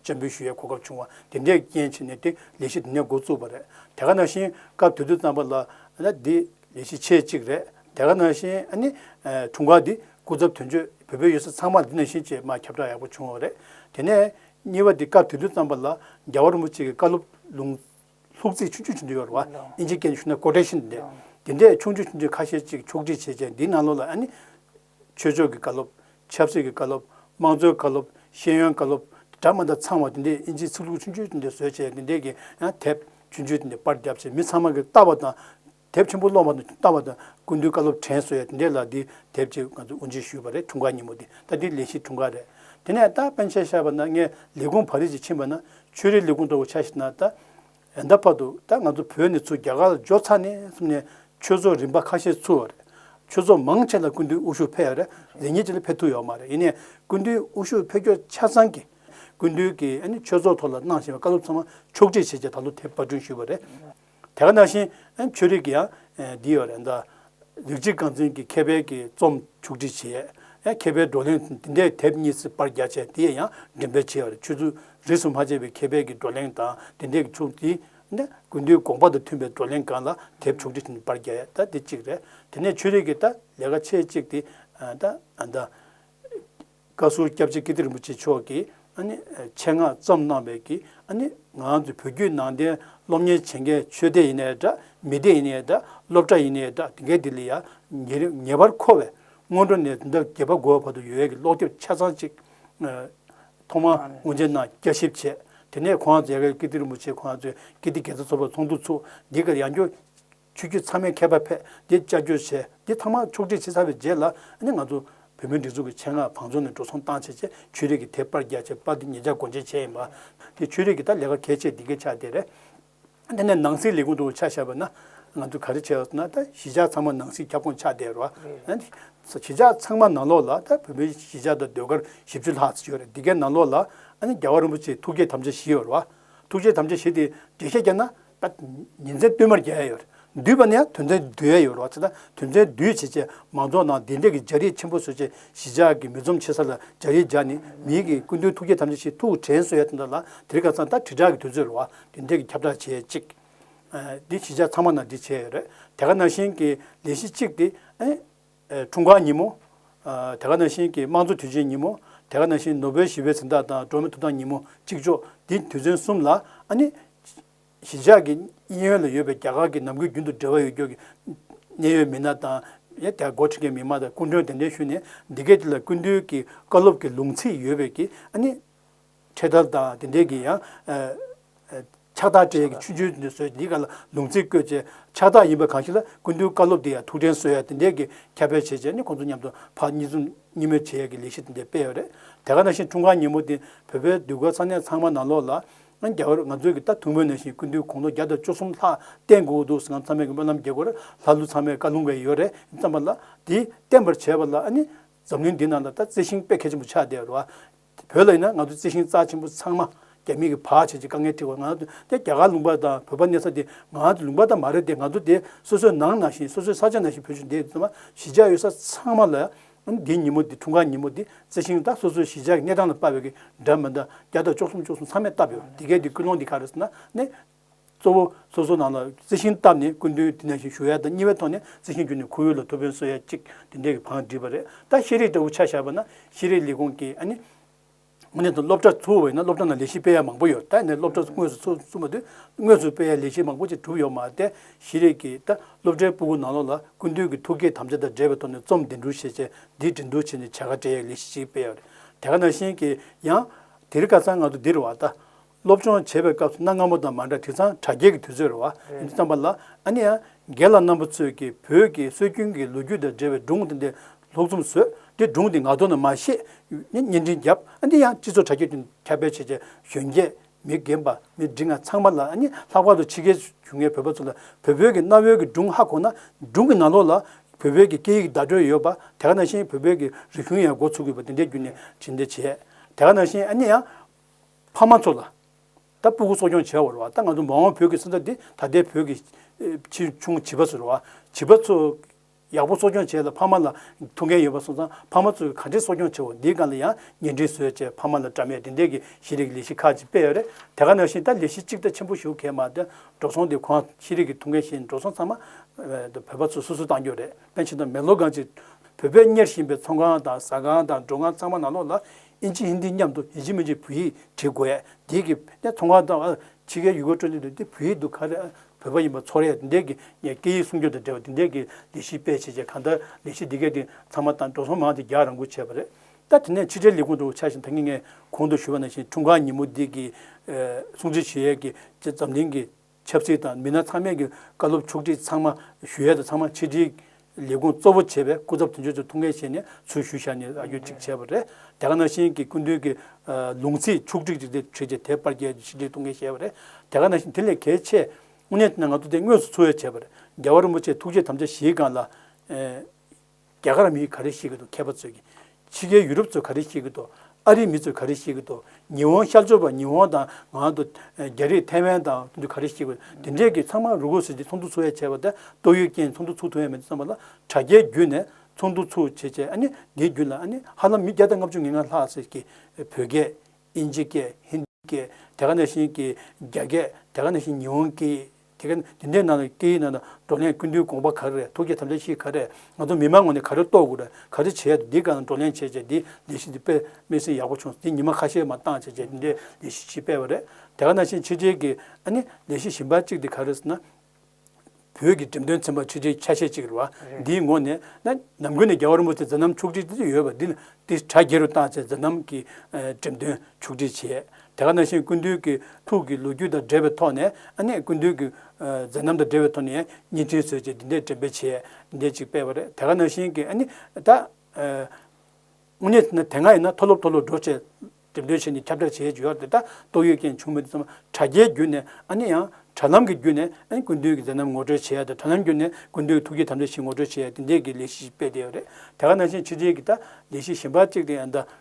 བཅད་འབུལ་ཞུ་ཡའི་གོ་སྐབས་བྱུང་བ་དེ་འདྲའི་རྐྱེན་བྱས་ནས་དེ་ལས་གཞི་འདི་ནས་འགོ་བཙུགས་པ་རེད་དེ་ག་ནང་བཞིན་སྐབས་དེ་དུས་བརྩམས་པ་ལ་ལ་འདི་ལས་གཞི་ཆེ་གཅིག་རེད་དེ་ག་ནང་བཞིན་ནི་འཁྲུངས་སྐར་འདི་སྐུ་ཚབ་དོན་གཅོད་བོད་པའི་ཡོད་ས་ཚང་མར་འདི་ནང་བཞིན་ཆེས་མ་ཁྱབ་བསྒྲགས་ཡག་པོ་བྱུང་བ་རེད་དེ་ནས་གཉིས་པ་འདི་སྐབས་དེ་དུས་བརྩམས་པ་ལ་རྒྱལ་བ་རིན་པོ་ཆེ་གི་བཀའ་སློབ་ལུང་ལྷུག་རྩིས་ཆུང་ཆུང་ཆུང་ཆུང་ཡོད་རེད་བ་ཨིན་ཇིའི་སྐད་ནས་ཞུ་ན་ཀོ་ཏྲེ་ཤིན་ཏེ་འདི་འདྲས་ཆུང་ཆུང་ཆུང་ཆུང་ཁ་ཤས་ཅིག་ཕྱོགས་སྒྲིག་བྱས་བྱས་འདིའི་ནང་ལོགས་ལ་ནི། ཆོས་ཕྱོགས་ཀྱི་བཀའ་སློབ། ཆབ་སྲིད་ཀྱི་བཀའ་སློབ། དམངས་གཙོའི་བཀའ་སློབ། ཤེས་ཡོན་བཀའ་སློབ། སྦྲགས་མ་འདྲ་ཚང་བ་དེ་འདྲས་དབྱིན་ཇིའི་ཚིག་ལྷུག་ཆུང་ཆུང་དེ་འདྲས་བཟོས་བྱས་དེ་འདྲས་ཀྱི་ཡང་དེབ་ཆུང་ཆུང་དེ་འདྲས་པར་བརྒྱབ་བྱས་མི་ཚང་མ་གི་ལྟ་བ་དང། དེབ་ཆེན་པོ་ཀློག་མ་ཐུབ་ལྟ་བ་དང་ཀུན་བཏུས་བཀའ་སློབ་དྲན་གསོ་ཡ་དེ་འདྲས་ལ་འདི་དེབ་ཅིག་ང་ཚོས་དབུ་འབྱེད་ཞུས་པ་རེད་འཁྲུངས་སྐར་ཉིན་མོ་དེ་ད་འདི་ལས་གཞི་འཁྲུངས་སྐར་རེད། དེ་ནས་ད་སྤེན་ཆེན་ཤར་བ་ན་ངས་ལས་ཁུངས་བྷ་རིས་ཀྱི་ཕྱིན་པ་ན་ཆོས་རིག་ལས་ཁུངས་གཙོ་བོ་ཆ་ཞིག་ན་ད། ཡང་ད་བར་དུ་ད་ང་ཚོ་བོད་ནས་ཚུར་རྒྱ་གར་ལ་འབྱོར་ཚར་ནས་སོང་ནས་ཆོས་ཚོགས་རིམ་པ་ཁ་ཤས་ཚུགས་ཡོད་རེད། ཆོས་ཚོགས་མང་ཆེ་ལ་སྐུ་མདུན་དབུ་ཞུགས་ཕེབས་ཡོད་རེད། ལས་ཉེས་ཅི་ལ་ཕེབས་ཐུབ་ཡོད་མ་རེད་ཡིན་ནས་སྐུ་མདུན་དབུ་ཞུགས་ཕེབས་རྒྱུ་ཆ་ཚང་གི་སྐུ་མདུན་གྱི་ཆོས་ཚོགས་ཐོག་ལ་གནང་བཞིན་པའི་བཀའ་སློབ་ཚང་མ་ཕྱོགས་སྒྲིག་བྱེད་ཆེད་ད་ལོ་དེ་པར་སྐྲུན་ཞུས་པ་རེད། དེ་ག་ནང་བཞིན་ཆོས་རིག་གི་ཡང་འདི་ཡོད་རེད། ལེགས་སྐྱེས་རྐང་འཛིན་གྱི་མཁས་པའི་གྱི་རྩོམ་མཇུག་སྒྲིལ་བྱས། མཁས་པའི་བགྲོ་གླེང་འདི་འདྲས་དེབ་གཉིས་སུ་དཔར་རྒྱག་བྱས་དེ་ཡང་འགྲེམས་སྤེལ་བྱས་པར་ཆུ་ཚོད་རིས་སུ་མ་ཆད་པའི་མཁས་པའི་གྱི་བགྲོ་གླེང་དང་དེ་འདྲས་ཀྱི་ཕྱོགས་བསྡུས། དགུན་དུས་དགོངས་པ་དང་མཐུན་པའི་བགྲོ་གླེང་གང་ལ་དེབ་མཇུག་སྒྲིལ་དཔར་རྒྱག་ཡ་ད་འདི་གཅིག་རེད། དེ་ནས་ཆོས་རིག་གི་ད་ལས་ཀ་ཆེ་གཅིག་དེ། བཀའ་ཟུར་སྐྱབས་རྗེ་ཀིརྟི་རིན་པོ་ཆེ་མཆོག་གིས་ཆེད་མངགས་བརྩམས་གནང་བའི་གི་ང་ཚོ་བོད་བརྒྱུད་ནང་བསྟན་སློབ་གཉེར་བྱེད་མཁན་ཆོས་སྡེ་ཡིན་ནའི་འདྲ་མི་སྡེ་ཡིན་ནའི་འདྲ་སློབ་གྲྭ་ཡིན་ནའི་འདྲ་དེ་གའི་དེ་ལ་ཡང་ངེས་པར་མཁོ་བའི་སྔོན་འགྲོ་ནས་དེང་རབས་རྒྱལ་བ་འགོ་བའི་བར་དུ་ཡོད་ཡོད་ཀྱི་ཀློག་དེབ་ཆ་ཚང་གཅིག་ཐོག་མར་དབུ་འབྱེད་གནང་བསྐྱར་ཞིབ་བྱས་དེ་ནས་ཁོང་ཚོས་ཀིརྟི་རིན་པོ་ཆེ་ཁོང་ཚོས་ཀིརྟི་དགེ་རྩ་ཚོགས་པ་ཚོགས་འདུ་ཚུགས་འདི་གར་ཡང་སྐྱོར་ཆོས་བརྒྱུད་ཚང་མའི་མཁས་པ་ཕེབས་འདི་བཅར་འགྱུར་བྱས་འདི་ཐང་མར་ཕྱོགས་བསྒྲིགས་བྱེད་ཚར་བའི་རྗེས་ལ་ནི་ང་ཚོ་བོད་མིའི་སྒྲིག་འཛུགས་ཀྱི་ཆེད་མངགས་བང་མཛོད་ནས་འགྲོ་སོང་བཏང་བྱས་རྗེས་ཆོས་རིག་གི་དེབ་དཔར་རྒྱག་ཆེད་དཔར་འདི་ཉིད་བརྒྱ་གོ་འབྱེད་བྱས་ཡིན་པ། དེ་ཆོས་རིག་གི་ད་ལས་ཀ་གལ་ཆེ་འདི་གའི་ཆ་དེ་རེད། དེ་ནས་ནང་སྲིད་ལས་ཁུངས་དུ་ཆ་བཞག་པ་ན་ང་ཚོས་ག་རེ་བྱས་ཟེར་ན་ད་གཞིས་ཆགས་ཚང་མ་ནང་སྲིད་ཁྱབ་ཁོངས་ཆ་དེ་རེད། གཞིས་ཆགས་ཚང་མ་ནང་ལོགས་ལ་ད་བོད་མིའི་གཞིས་ཆགས་དང་ཟློས་གར་བཞི་བཅུ་ལྷག་ཡོད་རེད་འདི་གའི་ནང་ལོགས་ལ་ནི་རྒྱལ་བ་རིན་པོ་ཆེའི་ཐུགས་བསྐྱེད་དམ་བཅའ་བཞི་ཡོད་རེད། ཐུགས་བསྐྱེད་དམ་བཅའ་བཞི་དེ་འགྲེལ་བཤད་རྒྱག་ན་ཉིན་མཚན་བསྟུད་མར་རྒྱལ་ཡ་ཡོད། འདུས་པ་ནི་ཡང་དོན་མཚན་འདུས་ཡ་ཡོད་ལོག་ཚེ་དང་དོན་མཚན་འདུས་བྱེད་ཅེས་མང་ཚོགས་ནང་བདེ་འཇགས་ཀྱི་སྦྱར་ཡིག་ཆེན་པོ་བཟོས་རྗེས་གཞིས་ཆགས་ཀྱི་མི་འཛོམས་ཆེ་ས་ལ་སྦྱར་ཡིག་སྦྱར་ནས་མི་ཡི་གི་ཀུན་དོན་ཐུགས་བསྐྱེད་དམ་བཅའ་ཞིག་ཐུགས་དྲན་གསོལ་ཡ་དེ་འདྲ་ལ་དེར་ཁ་ཚང་ལྟར་དྲིལ་བསྒྲགས་ཀྱི་དུས་ཚོད་ལ་བདེ་འཇགས་ཀྱི་ཁྱབ་བསྒྲགས་བྱེད་ཅིག། འདི་གཞིས་ཆགས་ཚང་མ་ནང་འདི་བྱས་ཡོད་རེད་དེ་ག་ནང་བཞིན་གྱི་ལས་གཞི་གཅིག་དེ། འཁྲུངས་སྐར་ཉིན་མོ། དེ་ག་ནང་བཞིན་གྱི་དམངས་གཙོ་དུས་ཆེན་ཉིན་མོ། དེ་ག་ནང་བཞིན་ནོ་བེལ་ཞི་བའི་གཟེངས་རྟགས་དང་སྒྲོན་མེ་ཐོབ་ཐང་ཉིན་མོ་གཅིག་ལྕོགས་འདི་དུས་ཚན་གསུམ་ལ་ཨ་ནི། གཞིས་ཆགས་ཀྱི་དབྱིན་ཡུལ་ལ་ཡོད་པའི་རྒྱ་གར་གྱི་ནམ་གུས་རྒྱུན་དུ་འབྲེལ་བ་ཡོད་སྐྱོར་གྱི་གནད་ཡོད་མི་སྣ་དང། དེ་ག་འགོ་ཁྲིད་མཁན་མི་དམངས་དང་སྐུ་མགྲོན་གདན་འདྲེན་ཞུས་ནས་འདི་གའི་དུས་ལ་ཀུན་འདུས་ཀྱི་བཀའ་སློབ་ཀྱི་ལུང་ཚིག་ཡོད་པའི་གྱི་ཨ་ནི། འཕྲལ་དར་དང་དེ་འབྲེལ་གྱི་ཡང། ཕྱག་རྟགས་འཕྲལ་གྱི་ཆུ་ཆུའི་ནུས་སྲོལ་འདིའི་སྐབས་ལ་ལུང་ཚིག་བཀོད་བྱའི་ཕྱག་རྟགས་ཡིན་པ་གང་ཞིག་ལ་ཀུན་འདུས་བཀའ་སློབ་འདི་ཡང་ཐུགས་དྲན་གསོལ་ཡ་དེ་འབྲེལ་གྱི་ཁྱབ་སྤེལ་བྱེད་སྤྱད་ནི་ཁོང་ཚོ་མཉམ་དུ་ཕག་གཉིས་འཛོམས་གཉིས་མོས་བྱེད་ཡས་ཀྱི་ལས་གཞི་དེ་འདྲས་སྤེལ་ཡོད་རེད་དེ་ག་ནང་བཞིན་འཁྲུངས་སྐར་ཉིན་མོ་དེ་བོད་པའི་འདུས་སྒོ་ས་གནས་ཚང་མ་ནང་ལོགས་ལ། རྒྱ་བོད་ང་ཚོས་ཀྱི་ད་ཐུགས་མོས་ནང་བཞིན་ཀུན་འདུས་གུང་ལོ་བརྒྱ་དང་བཅུ་གསུམ་ལྷག་བརྟན་དགོས་ཀྱི་འདུག་ཟེར་ནའང་ཚང་མས་ཀྱི་སྨོན་ལམ་དགྱེས་དགོས་ར་ལྷ་ཀླུ་ཚང་མས་བཀའ་ལུང་བས་ཡོད་རེད་བསམ་པ་ལ། དེ་བརྟན་པར་བྱས་པ་ལ་ནི་འཛམ་གླིང་འདི་ནང་ལ་ད་རྩི་ཤིང་དཔེ་གལ་ཆེན་པོ་ཆགས་བསྡད་ར་བ། བོད་ལ་ཡིན་ན་ང་ཚོ་རྩི་ཤིང་རྩ་ཆེན་པོ་ཚང་མ་རྒྱ་མི་གིས་བག་བྱས་ཀྱི་དཀའ་ངལ་ཁྲིད་བར་ང་ཚོ་དེ་རྒྱ་གར་ལུང་པ་དང་བོད་པ་གནས་ས་དེ་ང་ཚོ་ལུང་པ་དང་མ་རེད་དེ་ང་ཚོ་དེ་སོ་སོའི་ནང་ན་ཞིང་སོ་སོའི་ས་ཆ་ན་ཞིང་བོད་ཆུ་འདེད་ཚང་མ་གཞིས་ཆགས་ཡོད་ས་ཚང་མ་ལ་འདི་ཉིན་མོ་འདི་འཁྲུངས་སྐར་ཉིན་མོ་འདི་རྩི་ཤིང་ད་སོ་སོའི་གཞིས་ཆགས་ཀྱི་གནས་སྟངས་ལ་དཔའ་བོས་ཀྱི་འདྲ་མི་འདྲ་བརྒྱ་དང་བཅུ་གསུམ་བཅུ་གསུམ་ཚང་མས་བཏབ་ཡོད་དེ་གས་དེ་ཀུན་སློང་འདི་ག་རེ་ཟེར་ན་ནི། གཙོ་བོ། སོ་སོའི་ནང་ལ་རྩི་ཤིང་བཏབ་ནས་སྐུ་མདུན་དེ་ནས་བཞིན་བཞུགས་ཡ་ད་གཉིས་པའི་ཐོག་ནས་རྩི་ཤིང་བརྒྱུད་ནས་ཁོར་ཡུག་ལ་ཐུགས་ཕན་གསོ་ཡ་གཅིག་དེ་འདྲའི་བང་བསྒྲིགས་པ་རེད་ད་ཤེས་རིག་ལྟ་བུ་ཆ་བཞག་པ་ན་ཤེས་རིག་ལས་ཁུངས་ཀྱི་ཨ་ནི། ངོས་ནས་སློབ་གྲྭ་ཚུགས་ཡོད་ན་སློབ་གྲྭ་ནང་ལས་གཞི་སྤེལ་ཡ་མང་པོ་ཡོད་ད་ནས་སློབ་གྲྭ་དངོས་སུ་ཚུགས་ཚུགས་མ་དུས་དངོས་སུ་སྤེལ་ཡ་ལས་གཞི་མང་པོ་ཅིག་གྲུབ་ཡོད་མ་ཏེ་ཤེས་རིག་གི་ད་སློབ་གྲྭའི་སྤུ་གུ་ནང་ལོགས་ལ་སྐུ་མདུན་གྱི་ཐུགས་བསྐྱེད་དམ་བཅའ་དང་འབྲེལ་བའི་ཐོག་ནས་རྩོམ་འདི་འབྲུ་ཤེས་བྱའི་འདིའི་འབྲི་འདུག་བྱས་ནས་བྱ་དགའ་སྤྲད་ཡ་ལས་གཞི་ཞིག་སྤེལ་ཡ་རེད་དེ་ག་ནང་བཞིན་གྱི་ཡང་དེ་རི་ཀ་ཚང་ང་ཚོ་འདིར་བ་ད། སློབ་སྦྱོང་བྱེད་པའི་སྐབས་སུ་གནའ་སྔ་མོ་དང་མ་འདྲ་དེ་ཚང་དྲ་རྒྱའི་གི་དུས་ཚོད་རེད་བ་ཡིན་དུས་བཏང་པ་ལ་ཨ་ནི་ཨ་རྒྱལ་ལགས་རྣམ་པ་ཚོས་ཀྱི་བོད་ཀྱི་སྲོལ་རྒྱུན་གྱི་ལོ་རྒྱུས་དང་འབྲེལ་བའི་སྒྲུང་དེ་འདི་ལྷུག་རྩོམ་བཟོས་དེ་སྒྲུང་དེ་ང་དོ་ན་མ་ཤེས་ནས་བརྙན་འཕྲིན་བརྒྱབ་ཨ་ནི་ཨ་སྤྱི་ཚོགས་དྲ་རྒྱའི་སྟེང་དུ་ཁྱབ་སྤེལ་བྱས་རྗེས་གཞོན་སྐྱེས་མི་རྒན་པ་མི་འབྲི་ང་ཚང་མ་ལ་ཨ་ནི་ལྷག་པར་དུ་ཕྱི་རྒྱལ་བྱུང་ངའི་བོད་པ་ཚོ་ལ་བོད་བོད་ཀྱི་གནའ་བོའི་གི་སྒྲུང་ཧ་གོ་ན་སྒྲུང་གི་ནང་ལོགས་ལ་བོད་བོད་ཀྱི་སྐད་ཡིག་བརྡ་སྤྲོད་ཡོད་པ་དེ་ག་ནང་བཞིན་བོད་བོད་ཀྱི་རིག་གཞུང་ཡང་འགོ་ཚུགས་ཡོད་པ་དེ་འདྲའི་རྒྱུ་ནས་བྱིན་འདི་བྱས་དེ་ག་ནང་བཞིན་ཨ་ནི་ཨ། ཕ་མ་ཚོ་ལ་ད་སྤུ་གུ་གསོ་སྐྱོང་བྱེད་འོས་བ་ད་ང་ཚོ་མ་འོངས་བོད་ཀྱི་སེམས་ས་འདི་ད་ལྟའི་བོད་ཀྱི་ཆེ་ཆུང་བྱིས་པ་ཟེར་བ་བྱིས་པ་ཚོ་ཡག་པོ་གསོ་སྐྱོང་བྱས་ལ་ཕ་མ་ལ་ཐུགས་འགན་ཡོད་པ་སོང་ཙང་ཕ་མ་ཚོ་ག་འདྲེ་གསོ་སྐྱོང་བྱེད་འོས་འདི་ག་ལ་ཡང་ཉེ་འགྲིག་བཟོས་བྱས་ཕ་མ་ལ་དྲ་མའི་འབྲེལ་འདེད་ཀྱི་ཤེས་རིག་ལས་གཞི་ཁག་ཅིག་སྤེལ་རེད་དེ་ག་ནང་བཞིན་ད་ལས་གཞི་གཅིག་ད་ཆེན་པོ་ཞུ་གལ་མ་ད་འགྲོ་སོང་དེ་གོང་ཤེས་རིག་གི་ཐུགས་འགན་བཞེས་འགྲོ་སོང་ཚང་མ་བོད་པ་ཚོ་སོ་སོ་བཏང་རྒྱུ་རེད་པན་ཕྱིན་ཏོ་མེ་ལོ་གང་ཅིག་བོད་པས་གཉེར་བཞིན་པའི་ཚོང་ཁང་དང་ཟ་ཁང་དང་འགྲོ་ཁང་ཚང་མ་ནང་ལོགས་ལ་ཨིན་ཇི་ཧིནྡི་མཉམ་དུ་ཡིན་གཅིག་མིན་གཅིག་བོད་ཡིག་བྲིས་དགོས། རྒྱས་ཀྱི་གནས་མཐོང་ཁང་དང། ཕྱི་རྒྱལ་ཡུལ་སྐོར་སྤྲོ་འདིར་འདི་བོད་ཡིག་འདུག་ག་རེད་ཨ། བོད་པ་ཡིན་པ་ཚོར་རེད་འདི་འདྲས་ཀྱི་ངས་སྐད་ཡིག་སྲུང་སྐྱོབ་དང་འབྲེལ་བ་འདི་འདྲས་ཀྱི་ལས་གཞི་སྤེལ་བྱས་རྗེས་གང་ལྟར་ལས་གཞི་འདི་གའི་སྟེང་ཚང་མ་དང་འགྲོ་སོང་མང་དེ་རྒྱག་རང་འགུལ་བྱས་པ་རེད་ད། དེ་ནས་ཕྱི་དྲིལ་ལས་ཁུངས་དུ་ཆ་བཞིན་ད་ངེད་ངས་གོང་དུ་ཞུས་པ་ནང་བཞིན་འཁྲུངས་སྐར་ཉིན་མོ་འདི་གི་སྲུང་བརྩི་བྱེད་ཡས་ཀྱི་ཆེད་འཛམ་གླིང་གི་ཆབ་སྲིད་དང་མི་སྣ་ཚང་མས་ཀྱི་བཀའ་སློབ་ཕྱོགས་སྒྲིག་ཚང་མ་ཞུ་ཡས་དང་ཚང་མ་ཆིག་སྒྲིལ། ལས་ཁུངས་གཙོ་བོ་བྱས་པའི་སྐུ་ཚབ་དོན་གཅོད་ཚོས་ཐུགས་འགན་བཞེས་ནས་ཚུལ་ཞུ་བཞག་ནས་ཨ་རྒྱུ་གཅིག་བྱས་པ་རེད། རྒྱ་གར་ནང་བཞིན་གྱི་སྐུ་མདུན་གྱི་ལུང་ཚིག་ཕྱོགས་སྒྲིག་ཅིག་བྱས་རྗེས་དེ་པར་རྒྱལ་གྱི་ཆིག་སྒྲིལ་ཐུགས་འགན་བཞེས་པ་རེད། རྒྱ་གར་ནང་བཞིན་དེ་ལས་གལ་ཆེ། དངོས་གནས་དེ་ན་ང་ཚོ་དེ་དངོས་སུ་ཚུལ་ཡས་བྱས་པ་རེད། རྒྱལ་བ་རིན་པོ་ཆེ་ཐུགས་རྗེ་དམ་བཅའ་བཞེས་གང་ལ། རྒྱ་གར་མིས་ག་རེ་བཤད་གི་འདུག་མཁས་པ་ཚོས་ཀྱི། ཕྱི་རྒྱལ་ཡུ་རོབ་ཚོས་ག་རེ་བཤད་གི་འདུག་ཨ་རིའི་མི་ཚོས་ག་རེ་བཤད་གི་འདུག་ཉི་འོང་ཤར་ཕྱོགས་པ་ཉི་འོང་དང་ང་ང་དང་རྒྱ་རིགས་ཐའེ་ཝན་དང་དེ་ཚོས་ག་རེ་བཤད་གི་འདུག་དེ་འདྲས་ཀྱི་ཚང་མ་རུ་ཁུག་ཟེར་གྱི་ཚོགས་འདུ་ཚུགས་ཡ་བྱས་པ་དེ་ཏོག་དབྱིབས་རྐྱེན་ཚོགས་འདུ་ཚུགས་ཐུབ་ཡ་མེད་བསམ་པ་ལ་དྲ་རྒྱའི་བརྒྱུད་ནས་ཚོགས་འདུ་ཚུགས་བྱས་བྱས་ཨ་ནི་འདིའི་བརྒྱུད་ལ་ཨ་ནི་ཧ་ལམ་མི་བརྒྱ་དང་ལྔ་བཅུ་ངེ་ལྔ་ལྷག་ཟེར་གི་བོད་སྐད་དབྱིན་ཇི་སྐད་ཧིན་དྷི་སྐད་དེ་ག་ནས་བཞིན་གྱི་རྒྱ་སྐད་དེ་ག་ནས་བཞིན་ཉི་འོང་སྐད། དེ་ག་འདི་འདྲའི་ནང་ལ་སྐད་ཡིག་ནང་དང་བགྲོ་གླེང་ཀུན་འདུས་དགོངས་པ་ག་རེ་རེད་ཐུགས་རྗེ་དམ་བཅའ་ཤིག་ག་རེད་ང་ཚོ་མི་མང་ངོས་ནས་ག་རེ་རྟོགས་དགོས་རེད་ག་རེ་བྱེད་ཡ་རེད་འདི་ག་ནང་བགྲོ་གླེང་བྱས་བྱས་འདི་ལས་གཞི་འདི་སྤེལ་སྨྲས་སེམས་ཡག་པོ་བྱུང་འདི་ཉི་མ་ཁ་ཤས་མ་བཏང་བྱས་བྱས་འདི་འདྲའི་ལས་གཞི་ཞིག་སྤེལ་བ་རེད་དེ་ག་ནང་བཞིན་ཕྱི་རྒྱལ་གྱི་ཨ་ནི་ལས་གཞི་ཞིབ་འབར་གཅིག་འདི་ག་རེད་ཟེར་ན། བོད་ཀྱི་འགྲེམས་སྟོན་ཚན་པ་ཆེ་ཆེའི་ཆ་ཤས་གཅིག་རེད་བ་འདིའི་ངོ་ནས་ན་ནམ་ཀུན་ནས་རྒྱ་གར་རིན་པོ་ཆེ་མཛད་རྣམ་ཕྱུག་བསྒྲིགས་ཡོད་བ་འདི་ལ་འདི་གྲ་རྒྱས་རུ་བཏང་བྱས་མཛད་རྣམ་གྱི་འགྲེམས་སྟོན་ཕྱུག་བསྒྲིགས་བྱས་དེ་ག་ན་ཤེས་ཀུན་འདུས་ཀྱི་ཐུགས་ཀྱི་ལོ་རྒྱུས་དང་འབྲེལ་བའི་ཐོག་ནས་ཨ་ནེ་ཀུན་འདུས་ཀྱི་མཛད་རྣམ་དང་འབྲེལ་བའི་ཐོག་ནས་བརྙན་འཕྲིན་བཟོས་རྗེས་འདི་འདྲའི་འགྲེམས་སྤེལ་བྱས་འདྲས་ཅིག་སྤེལ་བ་རེད་དེ་ག་ན་ཤེས་ཀྱིས་ཨ་ནེ་ད་དངོས་གནས་ན་དེ་སྔ་ཡིན་ན་མཐོ་སློབ་མཐོ་སློབ་འགྲོ་ཆེད་འགྲེམས་སྟོན་བྱས་ནས་ཁྱབ་བསྒྲགས་བྱས་ཡོད་དེ་ད་ཏོག་ཡོད་རྐྱེན་བྱུང་མི་འདུག་ཚང་མ་དྲ་རྒྱའི་བརྒྱུད་ནས་ཨ་ནེ་ཡང་དྲ་ལམ་གྱི་བརྒྱུད་ནས་ཨ་ནེ་ཀུན་འདུས་ཀྱི་མཛད་རྣམ་ངོ་སྤྲོད་བྱས་དང་དྲ་ལམ་བརྒྱུད་ནས་ཀུན་འདུས་ཀྱི་ཐུགས་བསྐྱེད་དམ་བཅའ་བཞི་ངོ་སྤྲོད་བྱས་འདི་འདྲའི་ལས་གཞི་ཞིག་སྤེལ་བསྡད་ཡོད་རེད་དེ་ག་ན་ཤེས་ཕྱི་རྒྱལ་གྱི་ད་ལས་གཞི་གཞན་པ་གཅིག་དེ་ཡང་ད་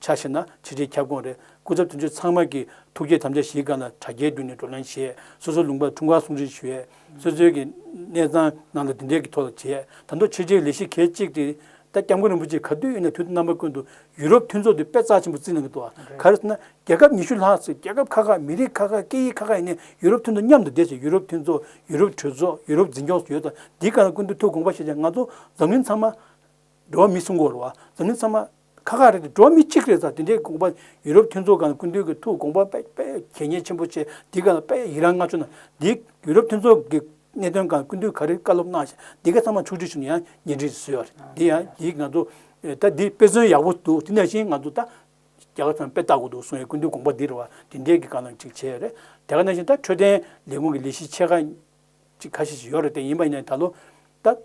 ཆ་བྱས་ན་ཆིག་སྒྲིལ་ཁྱབ་ཁོངས་རེད་སྐུ་ཚབ་དོན་གཅོད་ཚང་མ་གིས་ཐུགས་བསྐྱེད་དམ་བཅའ་གཞིའི་སྒང་ལ་དྲ་རྒྱའི་མདུན་ནས་བགྲོ་གླེང་བྱས་སོ་སོའི་ལུང་པར་འཁྲུངས་སྐར་གསུང་འཕྲིན་ཞུས། སོ་སོའི་གི་གནས་ཚང་ནང་དུ་དེ་འབྲེལ་གྱི་ཐོག་ལ་བྱས་ད་དུང་ཆོས་རྗེའི་ལས་གཞི་གལ་ཆེ་གི་ད་སྐྱབས་མགོན་རིན་པོ་ཆེ་ག་དུས་ཡིན་ན་དུས་རྣམ་པ་ཀུན་ཏུ་ཡུ་རོབ་མཐུན་ཚོགས་དུས་དཔེ་རྩ་ཆེན་པོ་བརྩི་གནང་གི་འདུག་ག་རེ་ཟེར་ན་རྒྱལ་ཁབ་ཉི་ཤུ་ལྷག་ཚེ་རྒྱལ་ཁབ་ཁག་ཁག་མི་རིགས་ཁག་ཁག་སྐད་ཡིག་ཁག་ཁག་ཡིན་ནས་ཡུ་རོབ་མཐུན་ཚོགས་མཉམ་དུ་བསྡད་ཚེ་ཡུ་རོབ་མཐུན་ཚོགས་ཡུ་རོབ་གྲོས་ཚོགས་ཡུ་རོབ་འཛིན་སྐྱོང་སོགས་ཡོད་ད་འདི་ག་ལ་ཀུན་ཏུ་ཐུགས་དགོངས་པ་བཞེས་ཅིང་ང་ཚོ་འཛམ་གླིང་ཚང་མ་འགྲོ་བ་མི་སུ་འགོ་རུ་བ་ཟུར་མིག་ཚང་མ་ཁ་ཁ་རེད་དེ་འགྲོ་བ་མི་གཅིག་རེད་ས་དེ་འདྲའི་དགོངས་པ་ཡུ་རོབ་མཐུན་ཚོགས་ཀང་ཀུན་འདུས་ཀི་ཐུགས་དགོངས་པ་དཔེ་དཔེ་གལ་གཉེར་ཆེན་པོ་ཆེ་འདི་ཀང་དཔེ་ཡི་རང་མངགས་བྱུང་ན་འདི་ཡུ་རོབ་མཐུན་ཚོགས་ཀི་གནད་དོན་ཀང་ཀུན་འདུས་ག་རེ་བཀའ་སློབ་གནང་བཞིན་འདི་ཀ་ཚང་མ་མཆོག་སྤྲུལ་ཞུ་ནས་ཡང་ཉེ་འགྲིག་བཟོས་བ་རེད་འདི་ཡང་འདི་ང་ཚོ་ད་འདི་དཔེ་མཚོན་ཡག་པོ་འདུག་དེ་ནས་བཞིན་ང་ཚོ་ད་རྒྱ་གར་ཚང་མ་དཔེ་ལྟ་དགོས་འདུག་གསུངས་ཡ་ཀུན་འདུས་དགོངས་པ་འདི་རེད་བ་དེ་འདྲའི་ཀི་ཀང་ལ་ཅིག་བྱས་རེད་དེ་ཀ་ནས་བཞིན་ད་འཕྲོད་བསྟེན་ལས་ཁུངས་ཀི་ལས་གཞི་ཆེ་ཁ་ཅིག་ཁ་ཤས་ཤིག་ཡོད་རེད་དེ་ཡིན་པ་ཡིན་ན་ད་ལོ་ད།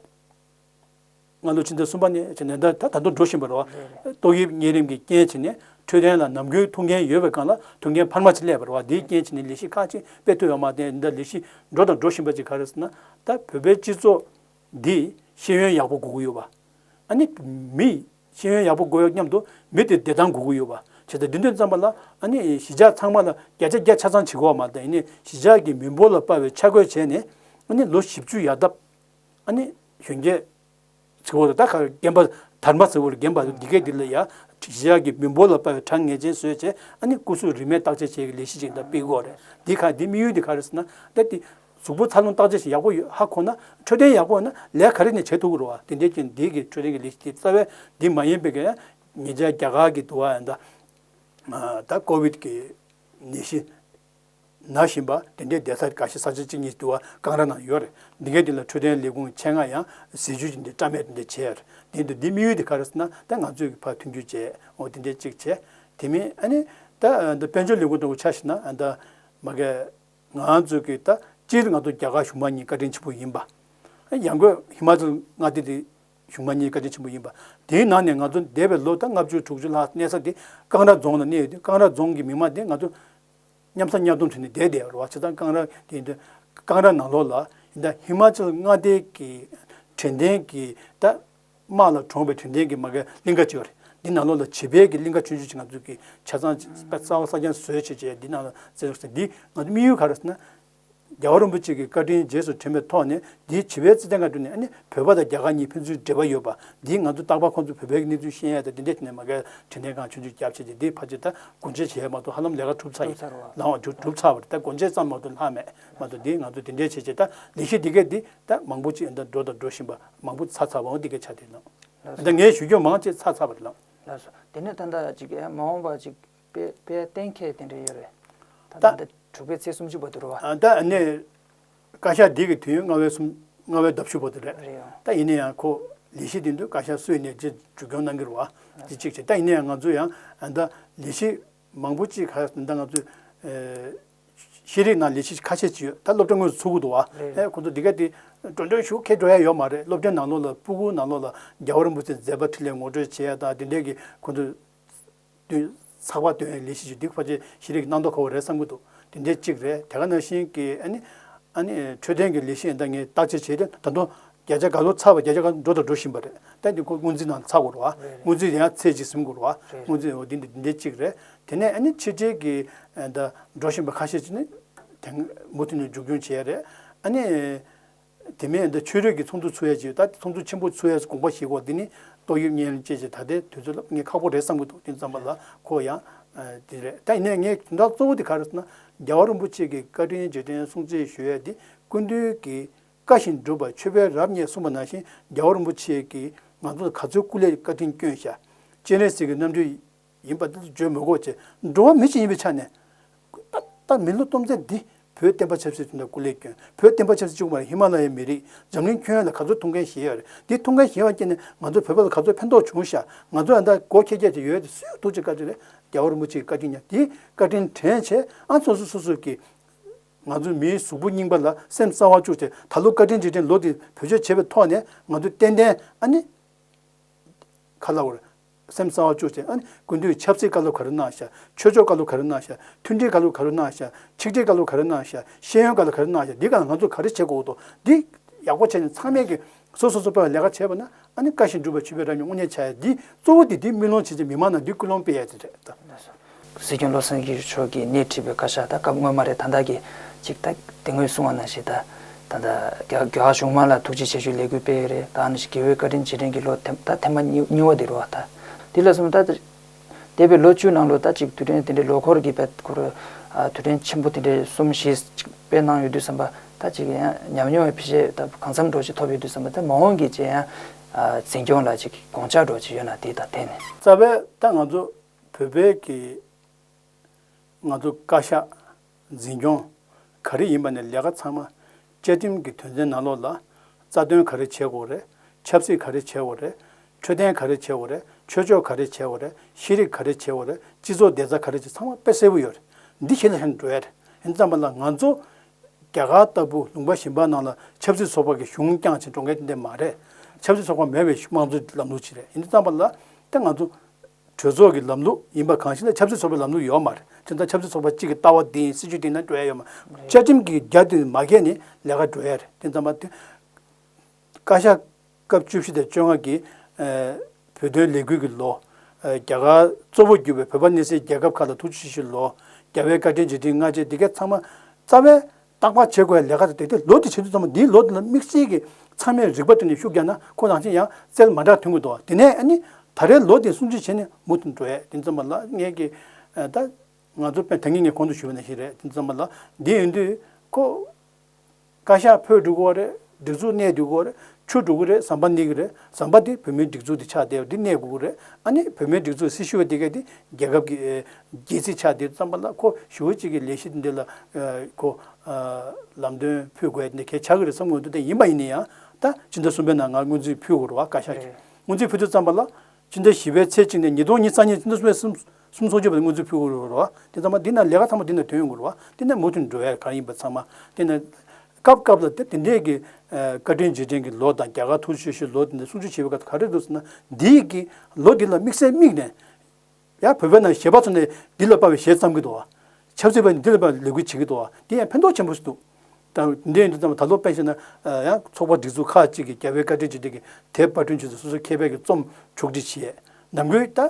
སྔ་ལོའི་ཕྱི་ཟླ་གསུམ་པ་ནས་བྱུང་ནས་ད་དུང་འགྲོ་བཞིན་པ་རེད། ཏོག་དབྱིབས་གཉན་རིམས་ཀྱི་རྐྱེན་བྱས་ནས་འཕྲོད་བསྟེན་ལ་ནམ་རྒྱུན་ཐུག་འགན་ཡོད་པའི་སྒང་ལ་ཐུག་འགན་འཕར་མ་ཅིག་སླེབས་པ་རེད། དེའི་རྐྱེན་བྱས་ནས་ལས་གཞི་ཁག་ཅིག་སྤེལ་ཐུབ་ཡོད་པ་མ་བརྟེན་འདི་འདྲ་ལས་གཞི་འགྲོ་དང་འགྲོ་བཞིན་པ་ཅིག་ག་རེ་ཟེར་ན། ད་བོད་པའི་སྤྱི་ཚོགས་འདི་ཤེས་ཡོན་ཡག་པོ་དགོས་ཀྱི་ཡོད་པ། ཨ་ནི། མི་ཤེས་ཡོན་ཡག་པོ་དགོས་སྙམ་དུ་མི་དེ་བདེ་ཐང་དགོས་ཀྱི་ཡོད་པ། བྱས་ཙང་དེ་དོན་བརྩམས་པ་ལ་ཨ་ནི་གཞིས་ཆགས་ཚང་མ་ལ་བརྒྱ་ཆ་བརྒྱ་ཆ་ཚང་བྱེད་དགོས་པ་མ་བརྟེན་ནས་གཞིས་ཆགས་ཀྱི་མི་འབོར་ལ་དཔའ་བའི་ཆ་བགོས་བྱས་ནས་ཨ་ནི་ལོ་བཞི་བཅུ་ཡར་བཏབ། ཨ་ནི། གཞོན་སྐྱེས། ཚི་བོ་ལ་ད་ག་རེ་སྐྱེན་པ་དར་མ་ཚི་བོ་ལ་བརྒྱན་པ་འདི་སྐད་འདི་ལ་ཡ། བཞི་ཡག་གི་མི་འབོར་ལ་དཔའ་བའི་གྲངས་ངེས་ཅན་བཟོས་བྱས་ཨ་ནི་སྐུ་གཟུགས་རིས་མེད་བརྟག་དཔྱད་བྱེད་ཀྱི་ལས་གཞི་ཅིག་འདྲ་སྤེལ་དགོས་རེད་འདི་ག་འདི་དམིགས་ཡུལ་འདི་ག་རེད་ཟེར་ན། ད་ཏི། གཟུགས་པོ་འཚར་ལོངས་བརྟག་དཔྱད་བྱེད་ཡག་པོ་ཡོད་ཧ་གོ་ན་འཕྲོད་བསྟེན་ཡག་པོ་ན་ལས་ག་རེ་ནས་བྱེད་ཐུབ་ཀི་རུ་བ་དེ་འདྲས་ཀྱི་འདི་གི་འཕྲོད་བསྟེན་གྱི་ལས་གཞི་དེ་རྩ་བའི་འདི་མ་ཡིན་པའི་ཀྱི། ཉེ་ཆར་རྒྱ་གར་གྱི་དུ་བ་ཡང་ད། ད་ཀོ་བིད་ཀྱི་ནད་གཞི། ན་བཞིན་པ་དེ་འདྲའི་བདེ་ས་འགའ་ཞིག་ས་ཆ་གཅིག་གཉིས་དུ་བ་ཀང་ར་ནང་ཡོད་རེད་འདི་གའི་དུས་ལ་འཕྲོད་བསྟེན་ལས་ཁུངས་ཆེ་ང་ཡང་ཟས་ཇུས་ཅི་འདྲའི་བཀྲ་མེད་དེ་འདྲའི་བྱས་རེད་འདི་འདུག་འདི་དམིགས་ཡུལ་དེ་ག་རེ་ཟེར་ན་ད་ང་ཚོས་ཀྱི་ཕར་མཐུན་འགྱུར་བྱས་འོ་དེ་འདྲའི་གཅིག་བྱས་དེ་མིན་ཨ་ནི་ད་འདི་དཔལ་འབྱོར་ལས་ཁུངས་དང་གོ་ཆ་ཞིག་ན་ད་མ་གས་ང་ཚོས་ཀྱི་ད་སྤྱིར་ང་ཚོ་རྒྱ་གར་གཞུང་མང་གཉིས་བཀའ་དྲིན་ཆེན་པོ་ཡིན་པ་ཡང་དགོས་ཧི་མ་ཅལ་མངའ་སྡེ་དེ་བྱུང་མ་གཉིས་བཀའ་དྲིན་ཆེན་པོ་ཡིན་པ། དེའི་ནང་ནས་ང་ཚོ་འདས་པའི་ལོ་ཟླ་ལྔ་བཅུ་དྲུག་ཅུ་ལྷག་གནས་ས་དེ་ཀང་ར་རྫོང་ལ་གནས་ཡོད་དུས་ཀང་ར་རྫོང་གི་མི་དམངས་དེ་ང་ཚོ་མཉམ་ཟ་མཉམ་འཐུང་བྱས་ནས་བསྡད་བསྡད་རོགས་བྱེད་སྟངས་ཀང་ར་དེ་ཡིན་དུས་ཀང་ར་ནང་ལོགས་ལ་ཡིན་ད་ཧི་མ་ཅལ་མངའ་སྡེའི་གི་དྲན་རྟེན་གི་ད་དམག་ལ་གྲོངས་པའི་དྲན་རྟེན་གི་མ་གའི་གླིང་ག་ཅིག་རེད་འདི་ནང་ལོགས་ལ་བྱིས་པའི་གི་གླིང་ག་ཆུང་ཆུང་ཅིག་ང་ཚོ་གི་ཆ་ཚང་ས་བ་ས་རྐྱང་བཟོས་བྱས་བྱས་འདི་ནང་ལ་བརྩེགས་རོགས་ཟེར་འདི་ང་ཚོ་དམིགས་ཡུལ་ག་རེད་ཟེར་ན། རྒྱལ་བ་རིན་པོ་ཆེ་གི་བཀའ་དྲིན་རྗེས་སུ་དྲན་པའི་ཐོག་ནས་འདིའི་བྱིས་པའི་རྩེད་ཐང་ག་དུ་ནས་བོད་པ་དང་རྒྱ་གར་གཉིས་ཕན་ཚུན་འབྲེལ་བ་ཡོད་པ་འདིའི་ང་ཚོ་རྟག་པར་ཁོང་ཚོ་བོད་པའི་གནས་ཚུལ་ཤེས་ཡས་དང་དེ་འདྲའི་ཐད་ནས་མ་གལ་དྲིན་ལན་གང་ཆུང་ཆུང་བརྒྱབ་བྱས་ཏེ་འདིའི་ཕ་ཆེ་ད་གོ་འབྱེད་བྱས་ཡས་མ་གཏོགས་ཧ་ལམ་ལས་ཀ་གྲུབ་ཚར་ཡས་ལང་བ་གྲུབ་ཚར་བ་རེད་ད་གོ་འབྱེད་ཙམ་མ་གཏོགས་ལྷག་མེད་མ་གཏོགས་འདིའི་ང་ཚོ་དེ་འདྲའི་བྱས་བྱས་ད་ལས་གཞི་འདི་གས་འདི་ད་མང་པོ་ཅིག་འདའ་འགྲོ་དང་འགྲོ་བཞིན་པ་མང་པོ་ཚར་ཚར་བའང་འདི་གས་ཆ་དེ་ནང་ད་ངས་ཞུ་རྒྱུ་མང་ཅིག་ཚར་ཚར་བ་རེད་ལགས། ལགས་སོ། དེ་ནས་ད་འདའ་ཅིག་གས་མ་འོངས་པ་ཅིག། པའི་པའི་གཏན་འཁེལ་དེ་འདྲ་ཡོད་རེད། ད་ལྟ་འདི་དྲུག་པའི་ཚེས་སུམ་ཅུ་པ་དུ་རུ་བ། ད་ནས་བཀའ་ཤག་འདི་གི་དུས་ཡུན་ལྔ་བའི་སུམ་ལྔ་བའི་ཟླ་བཞི་པ་དུ་རེད། རེད་ཡོང། ད་ཡིན་ན་ཡང་ཁོ་ལས་གཞི་དེ་འདུལ་བཀའ་ཤག་སུས་ནས་རྗེས་འཇུག་སྐྱོང་གནང་གི་རུ་བ། དེ་གཅིག་བྱས། ད་ཡིན་ན་ཡང་ང་ཚོ་ཡང་ད་ལས་གཞི་མང་པོ་ཅིག་ག་ད་ང་ཚོས་ཤེས་རིག་ནང་ལས་གཞི་ཁ་ཤས་ཅིག་ཡོད་ད་སློབ་གྲྭ་དངོས་སུ་ཚུགས་ཀི་འདུག་བ། ཨེ་ཁོ་ཚོ་འདི་ག་དེ་འགྲོ་འགྲོ་ཞུ་ཁེ་འགྲོ་ཡ་ཡོད་མ་རེད་སློབ་གྲྭའི་ནང་ལོགས་ལ་སྤུ་གུ་ནང་ལོགས་ལ་རྒྱ་བ་རིན་པོ་ཆེ་མཛད་པ་ཁྲི་ལས་ངོ་སྤྲོད་བྱེད་ཡ་དང་དེ་འདྲའི་གི་ཁོ་ཚོས་བདུན། ཚགས་པར་དོན་ལས་གཞི་ཞིག་བསྡུས་ཕོད་ཆེ་གཞི་རིགས་གནང་དོ་ཁོ་བོ་རེད་བསམ་གྱི་འདུག་དེ་འདྲའི་གཅིག་རེད་དེ་ག་ནང་བཞིན་གྱི་ཨ་ནི། ཨ་ནི། འཕྲོད་བསྟེན་གྱི་ལས་གཞི་འདང་ངེས་བརྟག་དཔྱད་བྱས་ཏེ་ད་དུང་བརྒྱ་ཆ་ག་ལོ་ཚགས་པ་བརྒྱ་ཆ་ག་འགྲོ་དང་འགྲོ་བཞིན་པ་རེད་ད་དེ་ཁོ་དངུལ་རྩིས་ནང་ཚགས་དགོས་རོགས་ཨ་དངུལ་རྩིས་དེ་ཡང་ཚེས་གཅིག་ཟིན་དགོས་རོགས་ཨ་དངུལ་རྩིས་འོ་དེ་འདི་འདྲའི་གཅིག་རེད་དེ་ནས་ཨ་ནི་ཕྱི་རྒྱལ་གྱི་ད་འགྲོ་བཞིན་པ་ཁ་ཤས་ཅིག་ནི། དེང་མུ་མཐུད་ནས་འཇུག་སྐྱོང་བྱས་ཡས་རེད་ཨ་ནི། དེ་མིན་ཨ་མདོའི་ཆོས་རིག་གི་ཚོགས་འདུ་ཚུགས་ཡས་ཀྱི་ད་ལྟ་ཚོགས་འདུ་ཆེན་པོ་ཚུགས་ཡས་དགོངས་པ་ཞིག་གོ་དེ་ནི་ཏོག་དབྱིབས་གཉན་རིམས་བཅས་ཀྱི་ད་ལྟའི་དུས་ཚོད་ལ་ངས་ཁག་པོ་རེད་བསམ་གྱི་འདུག་དེ་ཙམ་པ་ལ་གོ་ཡང་དེ་རེད་ད་ཡིན་ནའི་ངས་དོན་དག་གཙོ་བོ་དེ་ག་རེ་ཟེར་ན་རྒྱལ་བ་རིན་པོ་ཆེ་གི་བཀའ་དྲིན་རྗེས་དྲན་སྲུང་བརྩི་ཞུ་ཡས་དེ་ཀུན་འདུས་ཀྱི་བཀའ་བཞིན་སྒྲུབ་པར་ཆོས་དཔལ་རབ་བརྙེས་གསུངས་པ་ནང་བཞིན་རྒྱལ་བ་རིན་པོ་ཆེ་གིས་ང་ཚོ་ལ་ག་ཚོད་སྐུ་ལས་བཀའ་དྲིན་བསྐྱོན་ཤག་སྤྱན་རས་གཟིགས་ཀྱི་རྣམ་སྤྲུལ་ཡིན་པ་འདི་བརྗོད་མི་དགོས་ཀྱི། འགྲོ་བ་མི་ཞིག་ཡིན་པའི་ཆ་ནས། ད་ལྟ་མི་ལོ་སྟོང་ཚན་འདི་བོད་བསྟན་པ་ཆབ་སྲིད་ཐོག་ནས་སྐུ་ལས་བསྐྱོན། བོད་བསྟན་པ་ཆབ་སྲིད་བཅུག་མ་རེད་ཧི་མ་ལ་ཡའི་མི་རིགས་འཛམ་གླིང་ཁྱོན་ཡོངས་ལ་ག་ཚོད་ཐུག་མཁན་ཞེས་ཡོད་རེད་འདི་ཐུག་མཁན་ཞེས་བ་ཀྱེ་ནས་ང་ཚོ་བོད་པ་ལ་ག་ཚོད་ཕན་ཐོག་བྱུང་ཤག་ང་ཚོ་ཡང་དག་སྒོ་ཁྱེད་རྒྱ་ཆེ་ཡོད་དེ་སུས་ཐུག་ཅེས་བཀའ་ཆོས་རེད་རྒྱ་བོར་མོ་ཅིག་བཀའ་དྲིན་ཉར་དེའི་བཀའ་དྲིན་དྲན་བྱས་ཨང་སོ་སོ་སོ་སོ་ཀྱིས་ང་ཚོ་མིའི་གཟུགས་པོ་རྙིང་པ་ལ་སེམས་གསང་བ་བཅུག་ཏེ་ད་ལོ་བཀའ་དྲིན་རྗེས་དྲན་ལོ་དེ་བོད་ཆོས་བྱས་པའི་ཐོག་ནས་ང་ཚོས་ཏན་ཏན་ཨ་ནི་ཁ་ལ་བོར། སེམས་གསང་བ་བཅུ་ཅན་ཨཱ། ཀུན་འདུས་ཆབ་སྲིད་བཀའ་སློབ་ག་རུ་གནང་ཤག། ཆོས་ཕྱོགས་བཀའ་སློབ་ག་རུ་གནང་ཤག། མཐུན་སྒྲིལ་བཀའ་སློབ་ག་རུ་གནང་ཤག། ཆིག་སྒྲིལ་བཀའ་སློབ་ག་རུ་གནང་ཤག། ཤེས་ཡོན་བཀའ་སློབ་ག་རུ་གནང་ཤག་འདི་ག་ང་ཚོ་ག་རེ་བྱེད་དགོས་འདུག་འདི། ཡག་པོ་བྱས་ནས་ཚང་མས་ཀྱིས་སོ་སོ་སོ་སྤེལ་བ་ལས་ཀ་བྱས་པ་ན་ཨཱ་ནི་བཀའ་བཞིན་སྒྲུབ་པར་བྱེད་པའི་ར་སྙོག་དངོས་གནས་བྱ་ཡ་འདི་གཙོ་བོ་འདི་འདི་མི་ལོངས་བྱེད་ཅིག་མི་མང་ན་འདི་ཀུན་སློང་སྤེལ་ཡ་དེ་རེད། སྲིད་སྐྱོང་བློ་བཟང་སྐྱིད་མཆོག་གིས་སྣེ་ཁྲིད་པའི་བཀའ་ཤག་དང་སྐབས་སྔོན་མ་རེད་ད་ལྟ་གི་གཅིག་ད་དེ་སྔོན་གསུང་བ་ནང་བཞིན་ད་ད་ད་རྒྱ་རྒྱ་གཞུང་མང་ལ་ཐུགས་རྗེ་ཆེ་ཞུ་ལས་འགུལ་སྤེལ་ཡོད་རེད་ད་ནང་བཞིན་དགེ་འོས་བཀའ་དྲིན་རྗེས་དྲན་གྱི་ལོ་ད་ཐེངས་མ་གཉིས་བ་དེ་རུ་བ་ད་འདི་ལ་གསུམ་ད་འདས་པའི་ལོ་བཅུའི་ནང་ལོ་ད་གཅིག་དུས་དྲན་དེ་འདྲའི་ལོ་འཁོར་གྱི་བར་དུ་རུ་དུས་དྲན་ཆེན་པོ་དེ་འདྲའི་གསུམ་བཞི་ཅིག་སྤེལ་གནང་ཡོད་དུས་བསམ་པ་ད་གཅིག་ཡང་ཉམས་མྱོང་བའི་ཕྱི་བཤད་ད་གང་འཚམས་འགྲོ་ཅིག་ཐོབ་ཡོད་དུས་བསམ་པ་ད་མ་འོངས་ཀྱི་རྗེས་ཡང་འཛིན་སྐྱོང་ལ་ཅིག་དགོངས་འཇགས་འགྲོ་ཅིག་ཡོད་ན་དེ་ད་དེ་ནས། རྩ་བའི་ད་ང་ཚོ་བོད་པའི་གི། ང་ཚོ་བཀའ་ཤག། འཛིན་སྐྱོང། ག་རེ་ཡིན་པ་ནས་ལས་ཀ་ཚང་མ། བཅའ་ཁྲིམས་ཀྱི་དོན་ཚན་ནང་ལོགས་ལ། རྩ་དོན་ག་རེ་བྱེད་དགོས་རེད། ཆབ་སྲིད་ག་རེ་བྱེད་དགོས་རེད། འཕྲོད་བསྟེན་ག་རེ་བྱེད་དགོས་རེད། ཆོས་ཕྱོགས་ག་རེ་བྱེད་དགོས་རེད། ཤེས་རིག་ག་རེ་བྱེད་དགོས་རེད། སྤྱི་ཚོགས་བདེ་རྩ་ག་རེ་བྱེད་ཚང་མ་དཔེ་གསལ་བོ་ཡོད་རེད། འདི་ཤེས་ལ་ཧེ་འགྲོ་ཡ་རེད། ཡིན་ཙམ་པ་ལ་ང་ཚོ། རྒྱ་གར་ལྟ་བུ་ལུང་པ་ཞིམ་པ་ནང་ལ་ཆབ་སྲིད་ཚོགས་པ་གི་གཞུང་བསྐྱངས་ཕྱིན་འགྲོ་མཁན་དེ་འདི་མ་རེད། ཆབ་སྲིད་ཚོགས་པ་མེད་པའི་དམངས་གཙོའི་ལམ་ལུགས་ཅིག་རེད། ཡིན་ཙམ་པ་ལ། དེ་ང་ཚོ། གྲོས་ཚོགས་ཀྱི་ལམ་ལུགས་ཡིན་པ་གང་ཞིག་ལ་ཆབ་སྲིད་ཚོགས་པའི་ལམ་ལུགས་ཡོད་མ་རེད་དེ་ལྟར་ཆབ་སྲིད་ཚོགས་པ་གཅིག་གི་ལྟ་བ་དེ་ཡིན་སྲིད་ཇུས་དེ་ཡིན་ན་འགྲོ་ཡ་ཡོད་མ་རེད་བཅའ་ཁྲིམས་ཀྱི་རྒྱ་དེ་མ་ཁེངས་ནས་ལས་ཀ་འགྲོ་ཡ་རེད་དེ་ཙམ་པ་དེ། བཀའ་ཤག་སྐབས་བཅུ་བཞི་དང་བཅོ་ལྔ་གྱི་བོད་དོན་ལས་འགུལ་གྱི་ལོ། རྒྱ་གར་གཙོ་བོར་གྱུར་པའི་བོད་པ་གནས་སའི་རྒྱལ་ཁབ་ཁག་ལ་ཐུགས་རྗེ་ཆེ་ཞུ་ལོ། རྒྱ་བལ་བཀའ་ཁྲིའི་རྗེས་འབྲེལ་སྔ་རྗེས་དེ་གའི་ཚང་མ་རྩ་བའི་བརྟག་པར་བྱེད་དགོས་པའི་ལས་ཀ་དེ་དེ་ལོ་དེ་བྱེད་དུས་ཙམ་མོ་འདིའི་ལོ་དེ་ལ་དམིགས་བསལ་གྱི་ཚང་མས་རིག་པ་བཏོན་ནས་ཤུགས་རྒྱག་ན་ཁོ་རང་བཞིན་ཡང་རྩལ་མ་འདྲ་དོན་དགོས་འདུག་དེ་ནས་ནི་ད་རེའི་ལོ་དེ་སྲུང་བརྩི་བྱས་ནས་མུ་མཐུད་འགྲོ་ཡས་དེ་ཙམ་པ་ལ་ངས་ཀྱི་ད། ང་ཚོ་པན་དངེས་ངས་གོང་དུ་ཞུས་པ་ནས་ཞིག་རེད་དེ་ཙམ་པ་ལ་འདི་ཡིན་དུས་ཁོ། བཀའ་ཤག་ཕོད་འགྲུག་གོ་བ་རེད། སྒྲིག་འཛུགས་གནས་འདི་གོ་རེད། ཆུ་འགྲོ་གི་རེད་ཟམ་པ་ནི་གི་རེད་ཟམ་པ་དེ་བོད་མིའི་སྒྲིག་འཛུགས་དེ་ཆགས་བསྡད་པ་འདི་གནས་དགོས་ཀྱི་རེད་ཨ་ནི་བོད་མིའི་སྒྲིག་འཛུགས་སྲི་ཞུ་བ་དེ་ག་དེ་རྒྱལ་ཁབ་ཀྱི་རྒྱལ་སྲིད་ཆགས་བསྡད་ཙམ་པ་ལ་ཁོ་ཞུ་བ་གཅིག་གི་ལས་གཞི་འདི་ལ་ཁོ་ལམ་སྟོན་ཕུལ་དགོས་ཡ་འདི་གས་ཆགས་ཀྱི་རེད་བསམ་དགོས་འདུག་དེ་ཡིན་པ་ཡིན་ན་ཡང་ད་སྤྱི་ཟླ་གསུམ་པའི་ནང་ང་སྔོན་རྩིས་ཕུལ་དགོས་རུ་བ་བཀའ་ཤག་གིས་སྔོན་རྩིས་ཕུལ་དུས་ཙམ་པ་ལ་སྤྱི་ཟླ་བཞི་པའི་ཚེས་གཅིག་ནས་ཉིས་སྟོང་ཉིས་རྩ་གཉིས་སྤྱི་ཟླ་གསུམ་པའི་གསུམ་གསུམ་ཚོགས་ཆོད་པ་དེ་སྔོན་རྩིས་ཕུལ་དགོས་རུ་བ་དེ་ཙམ་པ་འདི་ནང་ལས་ཀ་ཚང་མ་འདི་ནང་དོན་ཡོང་དགོས་རུ་བ་འདི་ནས་མུ་མཐུད་འགྲོ་ཡ་ག་ཡིན་པ་ཚང་མ་འདི་ནས། སྐབས་སྐབས་ལ་དེ་འདྲའི་གི་བཀའ་དྲིན་རྗེས་དྲན་གི་ལོ་དང་རྒྱ་གར་ཐུགས་བཞེད་ཞུ་ལོ་དེ་འདྲ་གསུང་ཆོས་བྱེད་པའི་སྐབས་སུ་ག་རེ་འདུག་ཟེར་ན་འདི་ཡི་གི་ལོ་འདི་ལ་དམིགས་བསལ་དམིགས་ནས། ཡང་བོད་པའི་ནང་གཞས་པ་ཚོ་ནས་འདི་ལ་དཔའ་བའི་གཞས་བརྩམས་གི་འདུག་བ། ཆབ་སྲིད་པ་ནས་འདི་ལ་དཔའ་བའི་ལས་འགུལ་བྱེད་གི་འདུག་བ་འདི་ཡང་ཕན་ཐོགས་ཆེན་པོ་ཞིག་འདུག། ད་འདྲའི་ཡིན་འདུག་ཙམ་ད་ལོ་དཔེ་བཤད་ན། ཡང་ཚོགས་པ་སྒྲིག་འཛུགས་ཁག་ཅིག་གིས་རྒྱ་བོད་བཀའ་དྲིན་རྗེས་དྲན་གི་དེབ་དཔར་སྐྲུན་བྱེད་ཚུལ་སོ་སོའི་མཁས་པའི་གི་རྩོམ་ཕྱོགས་སྒྲིག་བྱས། ནམ་དགོས་ད།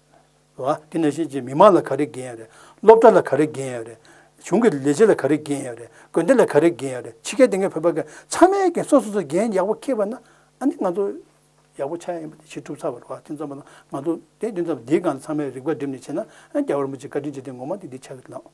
བ། དེ་ནས་གཞིས་བྱེས་མི་མང་ལ་ག་རེ་འགན་ཡོད་རེད། སློབ་གྲྭ་ལ་ག་རེ་འགན་ཡོད་རེད། གཞུང་གི་ལས་བྱེད་ལ་ག་རེ་འགན་ཡོད་རེད། དགོན་སྡེ་ལ་ག་རེ་འགན་ཡོད་རེད། ཕྱི་རྒྱལ་སྡེ་ལྔའི་བོད་པ་འགས་ཚང་མའི་འགན་སོ་སོ་སོའི་འགན་ཡག་པོ་ཁེལ་བ་ན། ཨ་ནི་ང་ཚོ་ཡག་པོ་ཆགས་ཡ་ཡིན་པ་དེ་ཕྱིར་སྒྲུབ་ཚར་བ་རེད་བ། དེ་ཙམ་པོ་ན་ང་ཚོ་དེ་དེ་ཙམ་པོ་འདིའི་སྒང་ལ་ཚང་མས་རིག་པ་བསྒྲིམས་ནས་བྱས་ན། རྒྱ་གར་མི་ཚོས་བཀའ་དྲིན་ཆེ་དེ་ངོ་མ་དེ་འདི་ཆགས་ཀྱི་མེད།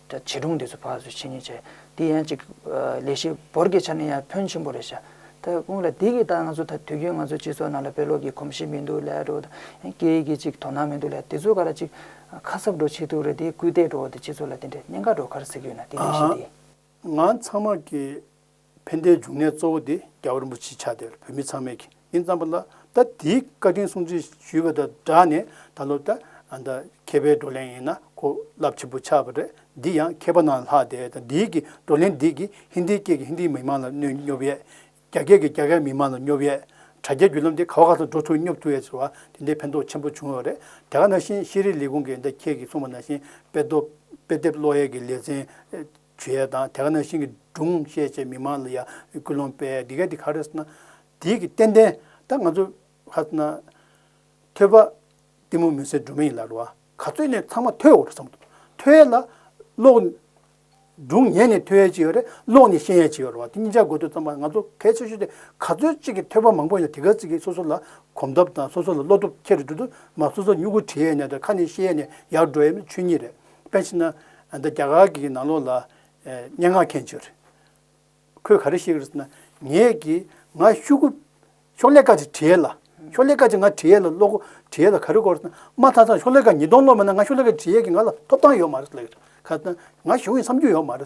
ད་བྱིས་སྒྲུང་འདི་ཚོ་ཕར་ཚུར་ཕྱིན་ཉིན་བྱས། དེ་ཡན་ཅིག། ལས་བྱེད་འབོར་གྱི་ཆ་ནས་ཡང་ཕོན་ཆེན་པོ་རེད་བྱ། ད་སྔོན་ལ་དེ་གི་ད་ང་ཚོ་ད་དུས་རྒྱུན་ང་ཚོ་སྤྱི་ཚོགས་ནང་ལ་བེད་ལོག་གི་གོམས་གཤིས་མི་འདུག་ལས་འགྲོ་དང་ཡང་སྐད་ཡིག་གི་ཅིག་དོ་སྣང་མི་འདུག་ལས་དེ་ཚོ་ག་ར་ཅིག། ཁ་གསབ་འགྲོ་ཆེད་དུ་རེད་དེ་སྐུལ་འདེད་འགྲོ་འོག་ཏུ་སྤྱི་ཚོགས་ལ་དེ་འདྲའི་གཉེན་ཁ་འགྲོ་ཁར་ཟེར་གྱི་ཡོད་ན་དེ་འདྲ་བྱས་ཏེ། ང་ཚང་མ་གི། ཕན་བདེའི་འབྱུང་གནས་གཙོ་བོ་དེ་རྒྱ་བོད་རིན་པོ་ཆེའི་ཆ་དེར་བོད་མི་ཚང་མས་ཁས་ལེན་བརྩམས་པ་ལ་ད་དེའི་བཀའ་དྲིན་སྲུང་བརྩི་ཞུས་པ་དང་སྦྲགས་ནས་ད་ལོ་ད་ད་མཁས་པའི་བགྲོ་གླེང་ཡིན་ན་གོ་རླབས་ཆེན་པོ་ཆགས་པ་རེད་འདི་ཡང་མཁས་པ་རྣམས་ལྷག་དེ་ད་འདིའི་གི་བགྲོ་གླེང་འདི་གི་ཧིན་དྷིའི་སྐད་ཀྱི་ཧིན་དྷིའི་མི་མང་ལ་གནོད་སྙོབ་ཡས། རྒྱ་སྐད་ཀྱི་རྒྱ་སྐད་མི་མང་ལ་སྙོབ་ཡས། དྲ་རྒྱའི་བརྒྱུད་ལམ་དེ་ག་བ་ག་ལ་འགྲོ་ཐུབ་སྙོབ་ཐུབ་ཡས་ཟེར་བ་དེ་འདི་ཕན་ཐོགས་ཆེན་པོ་བྱུང་བ་རེད་དེ་ག་ནང་བཞིན་ཤེས་རིག་ལས་ཁུངས་ཀྱི་ད་ཁྱེད་ཀྱིས་གསུངས་པ་ནང་བཞིན་དཔེ་དེབ་བློ་ཡས་ཀྱི་ལེ་ཚན། བྱུས་ཡས་དང་དེ་ག་ནང་བཞིན་གྱི་སྒྲུང་བཤད་བྱེད་མི་མང་ལ་ཡང་སྐུལ་སློང་སྤེལ་དེ་ག་དེ་ག་རེད་ཟེར་ན། དེའི་གི་ཏན་ཏན་ད་ང་ཚོ་ཧ་ཟེར་ན། ཐོས་པ་གཏི་མུག་མུན་སེལ་སྒྲོན་མེ་ཡིན་ལ་རུ་བ་ག་ཚོད་ནས་ཚང་མ་ཐོས་འོ་རེད་བསམ་འདུག་ཐོས་ཡས་ལ་ཀློག། སྒྲུང་ཉན་ནས་ཐོས་ཡས་ཅིག་ཡོད་རེད་ཀློག་ནས་ཤེས་ཡས་ཅིག་ཡོད་རུ་བ་དེ་གཉིས་ཆ་དགོས་འདོད་ཙམ་པ་ང་ཚོ་གལ་ཆེ་ཤོས་དེ་ག་ཚོད་ཅིག་གི་ཐོས་པ་མང་པོ་ཡང་དེ་ག་ཟིག་གི་སོ་སོ་ལ་གོམས་སྟོབས་དང་སོ་སོ་ལ་བློ་སྟོབས་ཁྱེར་འགྲོ་དུ་མ་སོ་སོ་མྱུ་གུ་བྲི་ཡས་ནས་དང་ཁ་ནས་ཤེས་ཡས་ནས་ཡར་འགྲོ་ཡས་མི་ཆོས་ཉིད་རེད། དཔེར་ཕྱིན་ན། འདི་རྒྱ་གར་གྱི་ནང་ལོགས་ལ། སྙན་ངག་མཁན་བྱོལ། ཁོས་ག་རེ་བཤད་ཀྱི་རེད་ཟེར་ན། ངས་ཀྱི། ང་ཤུ་གུ། ཤོག་ལྷེ་ཀ་ཅིག་བྲིས་ཡས་ལ། ཤོག་ལྷེ་ཀ་ཅིག་ང་བྲིས་ཡས་ལ་ཀློག་གོ། བྲིས་ཡས་ལ་ག་རེ་གོ་རེད་ཟེར་ན། མ་མཐའ་ཚང་ཤོག་ལྷེ་ཀ་ཉིས་སྟོང་ཀློག་མེད་ན་ང་ཤོག་ལྷེ་ཀ་བྲིས་ཡས་ཀྱི་ང་ལ་ཐོབ་ཐང་ཡོད་མ་རེད་ལབ་ཡོད། ཁ་ཟེར་ན། ང་གཞུང་གི་འཚམས་འདྲི་ཡོད་མ་རེད།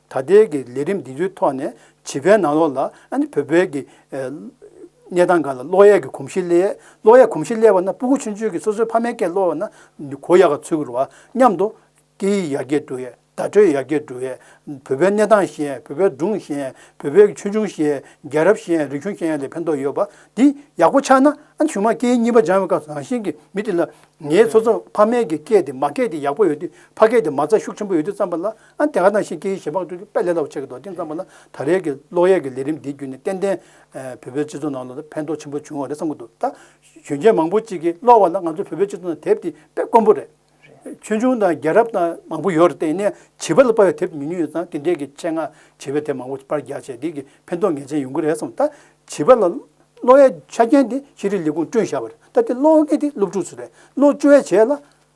ད་ལྟའི་གི་ལས་རིམ་འདི་ཚོའི་ཐོག་ནས་བྱིས་པའི་ནང་ལོགས་ལ་ཨནི་བོད་པའི་གི་གནས་སྟངས་འགའ་ལ་གློག་ཡས་གི་གོམས་གཤིས་སླེ། གློག་ཡས་གོམས་གཤིས་སླེ་བ་ན་སྤུ་གུ་ཆུན་ཆུན་གི་སོ་སོའི་ཕ་མའི་སྐད་གློ་བ་ན་གོ་ཡག་ག་ཚུལ་གུ་རུ་བ་མཉམ་དུ། སྐད་ཡིག་ཡག་གེ་འདུག་ཡས་བརྡ་སྤྲོད་ཡག་གེ་འདུག་ཡས་བོད་པའི་གནས་སྟངས་ཤེས་ཡས་བོད་པའི་སྒྲུང་ཤེས་ཡས་བོད་པའི་གི་ཆོས་འབྱུང་ཤེས་ཡས་རྒྱལ་རབས་ཤེས་ཡས་རིག་གཞུང་ཤེས་ཡས་ལས་ཕན་ཐོག་ཡོད་པ་འདི་ཡག་པོ་ཆགས་ན་ཨ་ནི་ཞུ་མ་སྐད་ཡིག་གཉིས་པ་སྦྱང་བའི་སྐབས་སུ་རང་བཞིན་གི་མི་དེ་ལ་ངའི་སོ་སོ་ཕ་མའི་གི་སྐད་དེ་མ་སྐད་དེ་ཡག་པོ་ཡོད་དུས་ཕ་སྐད་དེ་མ་རྩ་ཤུགས་ཆེན་པོ་ཡོད་དུས་བརྩམས་པ་ལ། ཨ་དེ་ག་དང་ཞེས་ཁྱེད་ཞེ་དཔག་ཏུ་དཔེ་ལེགས་སླ་བོ་ཆགས་ཀྱི་འདུག་དེང་སང་བ་ན་ད་རེས་ཀྱི་གློག་ཡས་ཀྱི་ལས་རིམ་འདིའི་བརྒྱུད་ནས་ཏན་ཏན་བོད་པའི་སྤྱི་ཚོགས་ནང་ལ་ཕན་ཐོགས་ཆེན་པོ་བྱུང་བ་རེད་བསམ་གྱི་འདུག་ད། གཞོན་སྐྱེས་མང་པོ་ཅིག་གིས་གློག་བ་ལ་ང་ཚོ་བོད་པའི་སྤྱི་ཚོགས་ནང་དེབ་དེ་དཔེ་དཀོན་པོ་རེད། ཆོས་འབྱུང་དང་རྒྱལ་རབས་དང་མང་པོ་ཡོད་རེད་ནས་བྱིས་པ་ལ་དཔར་བའི་དེབ་ཉུང་ཉུང་ཡོད་ཙང་དེ་འདྲས་ཀྱི་ཆེད་མངགས་བྱིས་པའི་དེབ་མང་པོ་དཔར་རྒྱག་བྱས་དེ་གི་ཕན་ཐོགས་ངེས་ཅན་ཡོང་གི་རེད་བསམ་ད། བྱིས་པ་ལ་གློག་ཡའི་ཆ་རྐྱེན་དེ་ཤེས་རིག་ལས་ཁུངས་བསྐྲུན་བཞག་པ་རེད་ད་དེ་གློག་ཡས་དེ་སློབ་ཕྲུག་ཚོ་རེད་སློབ་བཅུ་བའི་བྱས་ལ།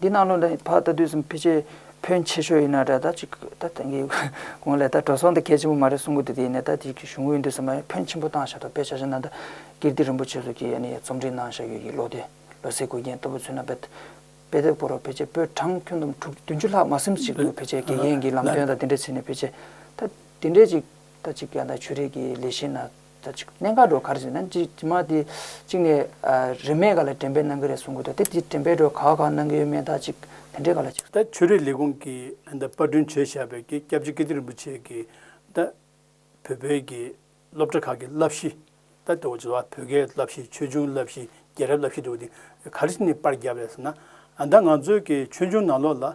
འདི་གནང་ལུགས་འདི་ཕ་ད་དུས་གསུམ་ཕལ་ཆེར་བོན་ཆེ་ཤོས་ཡིན་ན་འདྲ་ད་ཅིག་ད་དེང་གི་གོང་ལས་ད་འགྲོ་སོང་དེ་གལ་ཆེན་པོ་མ་རེད་གསུང་གི་འདུག་དེ་ཡིན་ན་ད་དེང་གི་གཞུང་དབུས་འདི་ཟེར་མ་ཡིན་བོན་ཆེན་པོ་བཏང་བཞག་ཐོག་དཔེ་ཆ་ཆ་ནང་ད་ཀིརྟི་རིན་པོ་ཆེ་སོགས་ཀྱི་རྩོམ་སྒྲིག་གནང་བཞག་ཡོད་ཀྱི་ལོ་དེ་ལོ་ཟེར་དགོས་རྐྱེན་ལྟ་བུ་ཚུན་ན་དཔེ་དེབ་སྐོར་བ་ཕལ་ཆེར་པོད་གྲངས་ཁྱོན་བསྡོམས་དྲུག་བདུན་ཅུ་ལྷག་མ་སེམས་གཅིག་ཏུ་ཕལ་ཆེར་དགེ་རྒན་གྱི་ལམ་སྟོན་དང་དེ་འདྲའི་ཚིག་ནས་ཕལ་ཆེར་ད་དེ་འདྲའི་ཅིག་ད་ཅིག་ཀྱང་ད་ཆོས་རིག་གི་ལས་གཞི་ན། ཟེར་ཅིག་གནས་མཁའ་འགྲོ་གར་ཟེར་ན་ཇི་མ་དེ་གཅིག་ནས་རིན་མེད་ག་ལ་དྲན་པས་གནང་གི་རེད་གསུང་གི་འདུག་དེ་དེ་དྲན་པས་འགྲོ་ག་གང་གནང་གི་ཡོད་མེད་ད་ཅིག་དེ་འདྲས་ག་ལ་ཅིག། ད་ཆོས་རིག་ལས་ཁུངས་ཀྱི་ད་དཔར་སྐྲུན་བྱས་བཞག་པའི་ཀྱི་སྐྱབས་རྗེ་ཀིརྟི་རིན་པོ་ཆེ་གི་ད་བོད་པའི་ཀྱི་སློབ་གྲྭ་ཁག་གི་བསླབ་གཞི་ད་དེ་བ་ཇོ་བོ་ཀའི་བསླབ་གཞི་ཆོས་འབྱུང་བསླབ་གཞི་རྒྱལ་རབས་བསླབ་གཞི་འདུག་དེ་ག་རེ་ནས་དཔར་བརྒྱབ་ལས་ཟེར་ན་ད་ང་ཚོའི་ཀྱི་ཆོས་འབྱུང་ནང་ལོགས་ལ་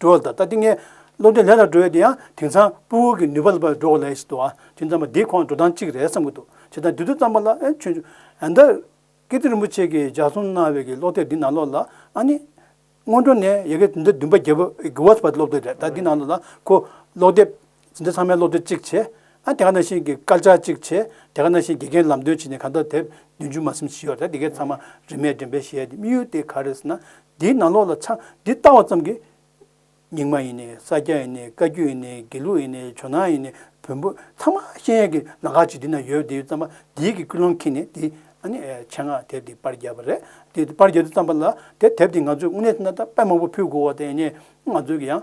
འགྲོ་བ་དང་ལྟ་དེ་ངས་བློ་གྲོས་ལྷད་ལ་འགྲོ་ཡོད་དེ་ཡང་དེང་སང་སྤུ་བོ་གི་ནུས་པ་ལ་བབས་འགྲོ་གི་ལས་ཞིག་འདུག་ཨ་ཅེ་ཙམ་པ་འདིའི་ཁོང་འགྲོ་སྟངས་གཅིག་རེད་བསམ་གྱི་འདུག་བྱས་ཙང་དུས་ཚོད་ཙམ་པ་ལ་ཨེ་ཆོད་འཇུག་ཨ་མདའ། ཀིརྟི་རིན་པོ་ཆེ་གིས་ལྗགས་གསུམ་གནང་བའི་གི་ཀློག་དེབ་འདི་ནང་ལོགས་ལ་ཨ་ནི། སྔོན་འགྲོ་ནས་ཡི་གེ་དེ་འདྲ་བདུན་པ་བརྒྱད་པ་གི་བར་དུ་བ་ཀློག་དེ་རེད་ད་འདི་ནང་ལོགས་ལ་ཁོ་ཀློག་དེབ་ཟིན་བྲིས་ཚང་མའི་བློ་འདོད་གཅིག་བྱས། ཨ་དེ་ག་ནང་བཞིན་གྱི་སྐར་ཆ་གཅིག་བྱས། དེ་ག་ནང་བཞིན་དགེ་རྒན་ལམ་སྟོན་བྱས་ནས་ག་འདོད་དེབ་བདུན་ཅུ་མ་སེམས་ཤི་ཡོད་རེད་དགེ་རྒན་ཚང་མ་རིན་མེད་འགྲེམས་སྤེལ་བྱས་ཡ་དེ་དམིགས་ཡུལ་དེ་ག་རེད་ཟེར་ན། འདིའི་ནང་ལོགས་ལ་ཆ་འདི་བལྟ་བ་ཙམ་གྱིས། རྙིང་མ་ཡིན་ནས་ས་སྐྱ་ཡིན་ནས་བཀའ་བརྒྱུད་ཡིན་ནས་དགེ་ལུགས་ཡིན་ནས་ཇོ་ནང་ཡིན་ནས་བོན་པོ་ཚང་མ་ཤེས་ཡས་ཀྱི་ལ་ཁ་ཅིག་འདི་ན་ཡོད་དེ་ཙམ་པ་འདིའི་གི་ཀུན་སློང་ཁེངས་ནས་དེ་ཨ་ནི་ཆེད་མངགས་དེབ་དེ་པར་བརྒྱབ་པ་རེད་དེ་དེ་པར་བརྒྱབ་དེ་ཙམ་པ་ལ་དེ་དེབ་དེ་ང་ཚོས་དངོས་གནས་ཟེར་ན་ད་དཔེ་མང་པོ་ཕུལ་དགོས་བ་དེ་ཡིན་ནས་ང་ཚོས་ཀྱི་ཡང་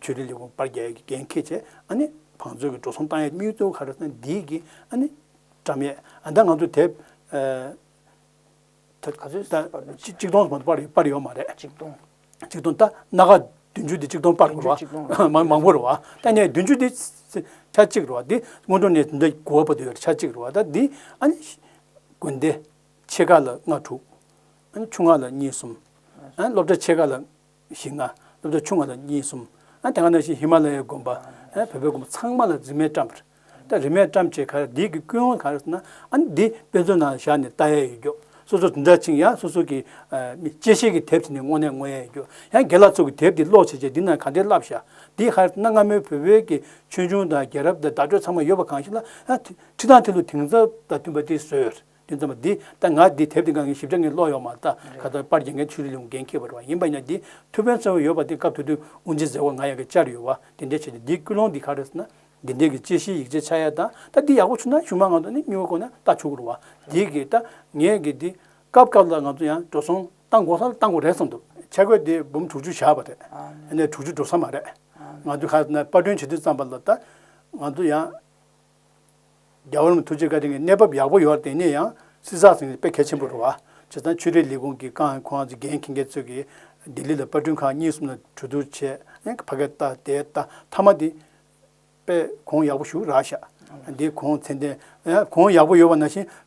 ཆོས་རིག་ལས་ཁུངས་དཔར་རྒྱག་གི་འགན་འཁེལ་བྱས། བང་མཛོད་ཀྱི་འགྲོ་སོང་བཏང་ཡས་སྨྱུག་རྩེའུ་ཁ་ར་ས་འདིའི་གི། བཀྲམ་ཡས། ད་ང་ཚོ་དེབ། ག་ཚོད་ཟིན་པར་འདུག་གཅིག་སྟོང་ཟིན་པར་འདུག་དཔར་ཡོད་མ་རེད། གཅིག་སྟོང། གཅིག་སྟོང་ད་སྣ་ཁ་བདུན་ཅུ་དེ་གཅིག་སྟོང་དཔར་དགོས་བ། མང་པོ་རེད་བ། ད་ནས་བདུན་ཅུ་དེ། ཆ་གཅིག་རེད་བ་དེ་སྔོན་འགྲོ་ནས་འདི་གོ་བ་པོ་དེ་ཡོད་རེད་ཆ་གཅིག་རེད་བ་ད་འདི། དགོན་སྡེ། ཕྱེད་ཀ་ལ་ལྔ་དྲུག། ཆུང་ང་ལ་གཉིས་གསུམ། སློབ་གྲྭ་ཕྱེད་ཀ་ལ། བཞི་ལྔ། སློབ་གྲྭ་ཆུང་ལྔ་དང་གཉིས་གསུམ། ཨ་དེ་སྔ་ན་བཞིན་ཧི་མ་ལ་ཡའི་དགོན་པ། ཨ་བོད་པའི་དགོན་པ་ཚང་མ་ལ་རྫི་མས་བཀྲམ། ད་རི་མས་བཀྲམ་བྱས་ཁར་འདི་གི་ཀུན་དབང་ག་རེ་ཟེར་ན། ཨ་ནི་འདི་དཔེ་མཛོད་ནང་བཞག་ནས་བལྟ་ཡས་ཡོད་རྒྱུ། སོ་སོར་འཛིན་གྲྭ་ཆིངས་ཡང་སོ་སོ་གི། དཔྱད་ཤེས་ཀྱི་དེབ་དེ་ནི་སྔོན་ནས་མངོན་ཡས་ཡོད་རྒྱུ། ཡང་དགེ་ལགས་ཚོ་གི་དེབ་འདི་ཀློག་བྱེད་ཆེད་འདི་ནང་ག་འདི་བསླབ་བཞག། འདི་ཧ་རེ་ཟེར་ན་སྔ་མོའི་བོད་པའི་གི་ཆོས་འབྱུང་དང་རྒྱལ་རབས་དང་བརྡ་སྤྲོད་ཚང་མ་ཡོད་པ་གང་ཞིག་ལ། ཨ་ཁྲི་དང་ཐི་ལུ་དེང་སང་དང་མཐུན་པ་དེ་བཟོས། དོན་ཙམ་པ་འདི་ལྟར་ང་འདི་དེབ་འདི་འགའ་ངས་ཞིབ་ཆ་ངས་ཀློག་ཡོང་མ་ད་ག་ད་པར་རྒྱ་འགན་ཆུ་རི་ལུང་འགན་འཁྱེར་བ་རུ་བ་ཡིན་པ་ཡང་འདི་ཐུ་བོན་ཚོན་བ་ཡོད་པ་འདི་སྐབས་དུས་དུས་དབུ་འཛིན་ཟེར་བ་ང་ཡང་གི་བཅར་ཡོད་བ་འདི་འདྲའི་བྱས་ཏེ་འདིའི་ཀུན་སློང་འདི་ག་རེད་ཟེར་ན། འདི་འདྲའི་གི་དཔྱད་གཞིའི་ཡིག་ཆའི་ཆ་ཡ་དང་ད་འདི་ཡག་པོ་བྱུང་ན་གཞུང་མང་ང་ཚོ་ནས་སྙུན་བར་གོ་ན་ལྟ་བྱུག་རུ་བ་འདི་གི་ད་ངས་གི་འདི་སྐབས་སྐབས་ལ་ང་ཚོ་ཡང་འགྲོ་སོང་བཏང་དགོ་ས་ལ་བཏང་དགོ་རེད་བསམ་འདུག། ཆ་བགོས་འདི་འབུམ་དྲུག་ཅུ་བཞག་པ་རེད། ཡིན་ནའི་དྲུག་ཅུ་འགྲོ་ས་མ་རེད། ང་ཚོས་ག་ད་ན་དཔར་སྐྲུན་བྱེད་དུས་ཙམ་པ་ལ་ད་ང་ཚོ་ཡང། རྒྱ་གར་མི་ཐུགས་རྗེ་བཀའ་དྲིན་གྱི་གནས་བབ་ཡག་པོ་ཡོད་དེ་ནས་ཡང་སྲིད་སྲ་ཟིང་དཔེ་གལ་ཆེན་པོ་རུ་བ་བྱེད་ཙང་ཆོས་རིག་ལས་ཁུངས་ཀྱི་ཀང་ཁོང་རྫི་རྒན་ཁིང་རྒྱལ་ཚོད་ཀྱིས་ལྡི་ལི་ལ་པར་སྐྲུན་ཁང་གཉིས་གསུམ་ལ་གྲོས་བསྡུར་བྱས་ཕ་གའི་རྟ་དེ་རྟ་མཐའ་མ་དེ་པས་གོང་ཡག་པོ་བཞུགས་རག་ཤག་འདི་གོང་ཚད་ལྡན་གོང་ཡག་པོ་ཡོད་པ་ན་བཞིན་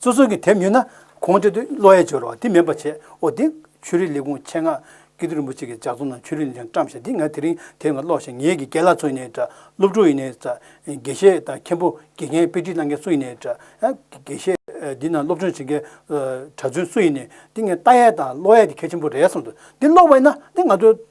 སོ་སོ་གིས་དེབ་ཉོས་ན་གོང་དེ་དུས་བློ་ཡལ་འབྱོར་བ་དེ་མེད་པ་བྱས་ཨོ་དེ་ཆོས་རིག་ལས་ཁུངས་ཆེད་མངགས་སྐྱིད་སྡུག་རིན་པོ་ཆེ་གི་ལྗགས་རྩོམ་ནང་ཆོས་རིག་ལས་འཆར་བཀྲམ་ཞེས་འདི་ང་དེ་རིང་དེབ་འགའ་ཀློག་ཞིང་ངེད་ཀྱི་སྐལ་ལ་ཚོ་ཡིན་ནའི་འདྲ་སློབ་ཕྲུག་ཡིན་ནའི་འདྲ་དགེ་བཤེས་དང་མཁན་པོ་དགེ་རྒན་དཔེ་ཁྲིད་གནང་མཁན་སུ་ཡིན་ནའི་འདྲ་དགེ་བཤེས་འདི་ནང་སློབ་སྦྱོང་བྱེད་མཁན་གྲྭ་བཙུན་སུ་ཡིན་ནའི་འདི་ངའི་ལྟ་ཡས་དང་བློ་ཡས་དེ་གལ་ཆེན་པོ་རེད་བསམ་འདུག་འདི་ཀློག་པ་ཡིན་ན་འདི་ང་ཚོའི།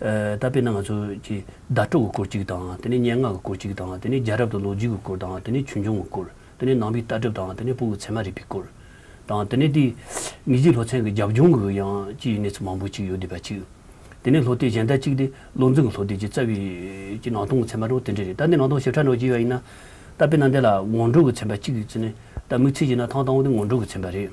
ད་དཔེར་ན་ང་ཚོ་ཀྱི་ཟླ་དྲུག་གི་སྐོར་གཅིག་དང་དེ་ནས་སྙན་ངག་གི་སྐོར་གཅིག་དང་དེ་ནས་རྒྱལ་རབས་དང་ལོ་རྒྱུས་ཀྱི་སྐོར་དང་དེ་ནས་ཆོས་འབྱུང་གི་སྐོར་དེ་ནས་ནང་པའི་ལྟ་གྲུབ་དང་དེ་ནས་སྤུ་གུ་ཚད་མ་རིག་པའི་སྐོར་དང་དེ་ནས་དེའི་མི་རྗེ་ལྷོ་ཚན་གྱི་རྒྱབ་ལྗོངས་ཀྱི་ཡང་ཅི་ཡི་གནས་ཚུལ་མང་པོ་ཅིག་ཡོད་བསྡད་པ་ཅིག་དེ་ནས་ལྷོ་སྟེ་གཞན་ལྟ་གཅིག་དེ་བློ་འཛིན་གྱི་ལྷོ་སྟེ་ཀྱི་རྩ་བའི་ཀྱི་ནང་སྟོང་གི་ཚད་མ་རོ་དེ་འདྲ་རེད་ད་ནི་ནང་སྟོང་ཞིབ་ཕྲ་ནོར་གྱི་ཡོད་ཡིན་ན་ད་དཔེར་ན་འདི་ལ་ངོ་འགྲོ་གྱི་ཚན་པ་གཅིག་ཙི་ནས་ད་དམིགས་ཚིག་བྱས་ན་ཐང་སྟོང་དེ་ངོ་འགྲོ་གྱི་ཚན་པ་རེད།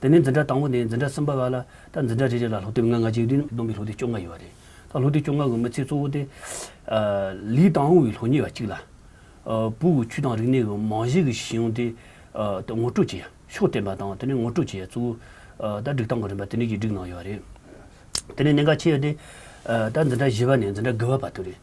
དེ་ནས་འཛིན་གྲྭ་དང་པོ་ནས་འཛིན་གྲྭ་གསུམ་པ་བར་ལ་དང་འཛིན་གྲྭ་རེ་རེ་ལ་ལྷོ་དེབ་ལྔ་ལྔ་གཅིག་བསྡུས་ནས་བསྡོམས་པའི་ལྷོ་དེབ་བཅོ་ལྔ་ཡོད་པ་རེད། ད་ལྷོ་དེབ་བཅོ་ལྔ་གི་མི་ཚེ་གཙོ་བོ་དེ། ལི་ཏང་ཝུའུ་ཡི་ལྷོ་གཉིས་བ་གཅིག་ལ། པུའུ་ཝུའུ་ཆུས་དང་རིག་གནས་ཀྱི་རྨང་གཞིའི་གཞི་གཞུང་དེ། ངོ་སྤྲོད་བྱེད་ཡ་ཕྱོགས་བསྟན་པ་དང་དེ་ནས་ངོ་སྤྲོད་བྱེད་ཡ་གཙོ་བོ། ད་སྒྲིག་སྟངས་གི་རིམ་པ་དེ་ནས་ཀྱིས་བསྒྲིགས་གནང་ཡོད་པ་རེད། དེ་ནས་གནད་འགག་ཆེ་ཡོད་དེ། ད་འཛིན་གྲྭ་བཞི་བ་ནས་འཛིན་གྲྭ་དགུ་བ་བར་དུ་རེད།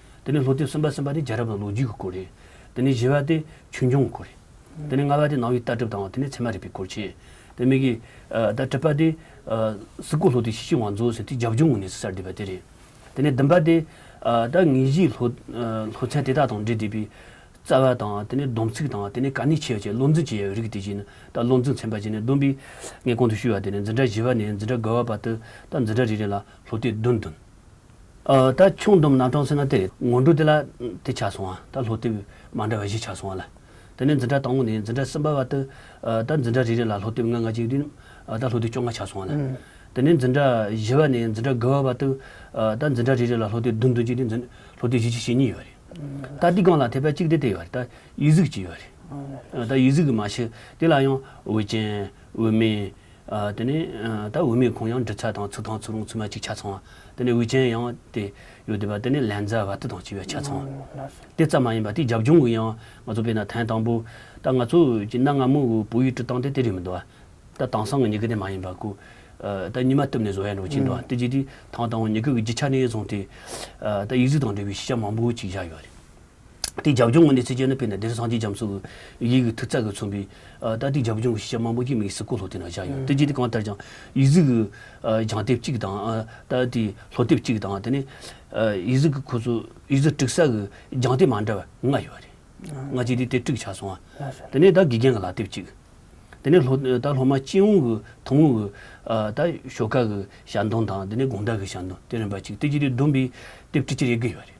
དེ་ནས་ལྷོ་སྟེང་གསུམ་པ་གསུམ་པ་དེ་རྒྱལ་རབས་དང་ལོ་རྒྱུས་ཀྱི་སྐོར་རེད། དེ་ནས་བཞི་བ་དེ་ཆོས་འབྱུང་གི་སྐོར་རེད། དེ་ནས་ལྔ་བ་དེ་ནང་བའི་ལྟ་གྲུབ་དང་དེ་ནས་ཚད་མ་རིག་པའི་སྐོར་བཅས་དེ་མིག་གིས། ད་བྲི་པ་དེ། སི་ཀོ་ལྷོ་སྟེང་ཤེས་བྱའི་བང་མཛོད་ཟེར་དེ་རྒྱབ་ལྗོངས་ཀྱི་གནས་ཚུལ་གསར་བསྡུས་པ་དེ་རེད། དེ་ནས་བདུན་པ་དེ། ད་ངེད་གཞིས་ལྷོ་ཚལ་དེ་དག་དང་འབྲེལ་བསྡུས་པའི། རྩ་བ་དང་དེ་ནས་སྡོམ་ཚིག་དང་དེ་ནས་ག་ནས་ཆད་བཅས་བློ་འཛིན་བྱེད་ཡའི་རིགས་དེ་བཞིན་ནི་ད་བློ་འཛིན་ཚན་པ་བཅས་ནས་བདུན་པའི། ངས་གོང་དུ་ཞུས་བ་དེ་ནས་འཛིན་གྲྭ་བཞི་བ་ནས་འཛིན་གྲྭ་དགུ་བ་བར་དུ་ད་འཛིན་གྲྭ་རེ་རེ་ལ་ལྷོ་སྟེང་བདུན་བདུན། ད་ཆུང་བསྡོམས་ནང་དྲོངས་ཟེར་ན་དེ་ངོ་འགྲོ་དེ་ལ་དེ་ཆགས་སོང་ང་ད་ལྷོ་ལྟེབ་མ་འདྲ་བ་བཞི་ཆགས་སོང་ང་ལ། དེ་ནས་འཛིན་གྲྭ་དང་པོ་ནས་འཛིན་གྲྭ་གསུམ་པ་བར་དུ་ད་འཛིན་གྲྭ་རེ་རེ་ལ་ལྷོ་ལྟེབ་ང་ལྔ་གཅིག་བདུན་ད་ལྷོ་ལྟེབ་བཅོ་ལྔ་ཆགས་སོང་ང་ལ། དེ་ནས་འཛིན་གྲྭ་བཞི་བ་ནས་འཛིན་གྲྭ་དགུ་བ་བར་དུ་ད་འཛིན་གྲྭ་རེ་རེ་ལ་ལྷོ་ལྟེབ་བདུན་བདུན་གཅིག་དེ་འཛིན་ལྷོ་ལྟེབ་བཞི་བཞི་ཞེ་གཉིས་ཡོད་རེད། ད་འདི་སྒང་ལ་དེ་བས་གཅིག་དེ་དེ་ཡོད་རེད་ད་ཡིད་གཟུགས་གཅིག་ཡོད་རེད། ད་ཡིད་གཟུགས་གི་མ་ཤི་དེ་ལ་ཡང་འོད་ཅན་འོད་མིན་དེ་ནས་ད་འོས་མེད་ཁོང་ཡང་འབྲི་ཚ་དང་ཚུར་ཐང་ཚུར་རུང་ཚུར་མ་གཅིག་ཆ་ཚང་བ། དེ་ནས་འོས་ཅན་ཡང་དེ། ཡོད་དེ་བ་དེ་ནས་ལན་ཛ་བ་ཏི་དང་གཅིག་བས་ཆ་ཚང་བ། དེ་ཙམ་མ་ཡིན་པ་དེ་རྒྱབ་ལྗོངས་གི་ཡང་ང་ཚོ་བས་ན་ཐན་དང་པོ། ད་ང་ཚོ་ཀྱི་གནའ་སྔ་མོ་བོད་ཡིག་བྲི་སྟངས་དེ་དེ་རིགས་མི་འདུག་བ། ད་དང་སང་གི་ཉི་གུ་དེ་མ་ཡིན་པ་ཀུ། ད་ཉི་མ་བཏུབ་ནས་བཟོ་བས་ནོ་ཅིག་འདུག་བ་དེ་རྗེས་དེ་ཐང་དང་བོ་ཉི་གུ་གི་རྒྱུ་ཆ་ནས་བཟུང་དེ། ད་ཡིག་གཟུགས་དང་འབྲེལ་བའི་ཤེས་བྱ་མང་པོ་ཅིག་བཞག་ཡོད་རེད། ཏི་རྒྱབ་ལྗོངས་ངོས་ནས་ཚིག་གཅོད་ནི་དཔེར་ན་དེར་སངས་རྒྱས་རྒྱ་མཚོ་གི་ཡིག་གི་ཐིག་ཚག་གིས་མཚོན་པའི། ཏཱ་ཏི་རྒྱབ་ལྗོངས་ཀྱི་ཤེས་བྱ་མང་པོ་ཞིག་མིག་སི་ཀོ་ལྷོ་སྟེང་ན་བཞག་ཡོད། ཏི་ཇི་ཏི་གང་ལྟར་ཀྱང། ཡིག་གཟུགས་ཀྱི། བྱང་དེབ་གཅིག་དང། ཏཱ་ཏིའི་ལྷོ་དེབ་གཅིག་དང་དེ་ནི། ཡིག་གཟུགས་ཀྱི་ཁོ་ཚོ་ཡིག་གཟུགས་བསྒྲིགས་ས་གི་བྱང་དེབ་མ་འདྲ་བ་ལྔ་ཡོད་རེད། སྔ་ཕྱི་དེ་དེབ་བསྒྲིགས་ཆགས་སོང། དེ་ནས་ད་དགེ་རྒན་གྱི་ལག་དེབ་གཅིག། དེ་ནས་ལྷོ། ད་ལྷོ་མ་སྤྱི་ཡོངས་ཀྱི་ཐུང་ངུ་གི། ད་ཞོ་ཁ་གི་ཞལ་འདོན་དང་དེ་ནས་དགུང་ཟླ་གི་ཞལ་འདོན་དེ་རིམ་པ་གཅིག་ཏི་ཇི་ཏི་བདུན་པའི་དེབ་ཁྲི་ཆེར་དབྱེ་གི་ཡོད་རེད།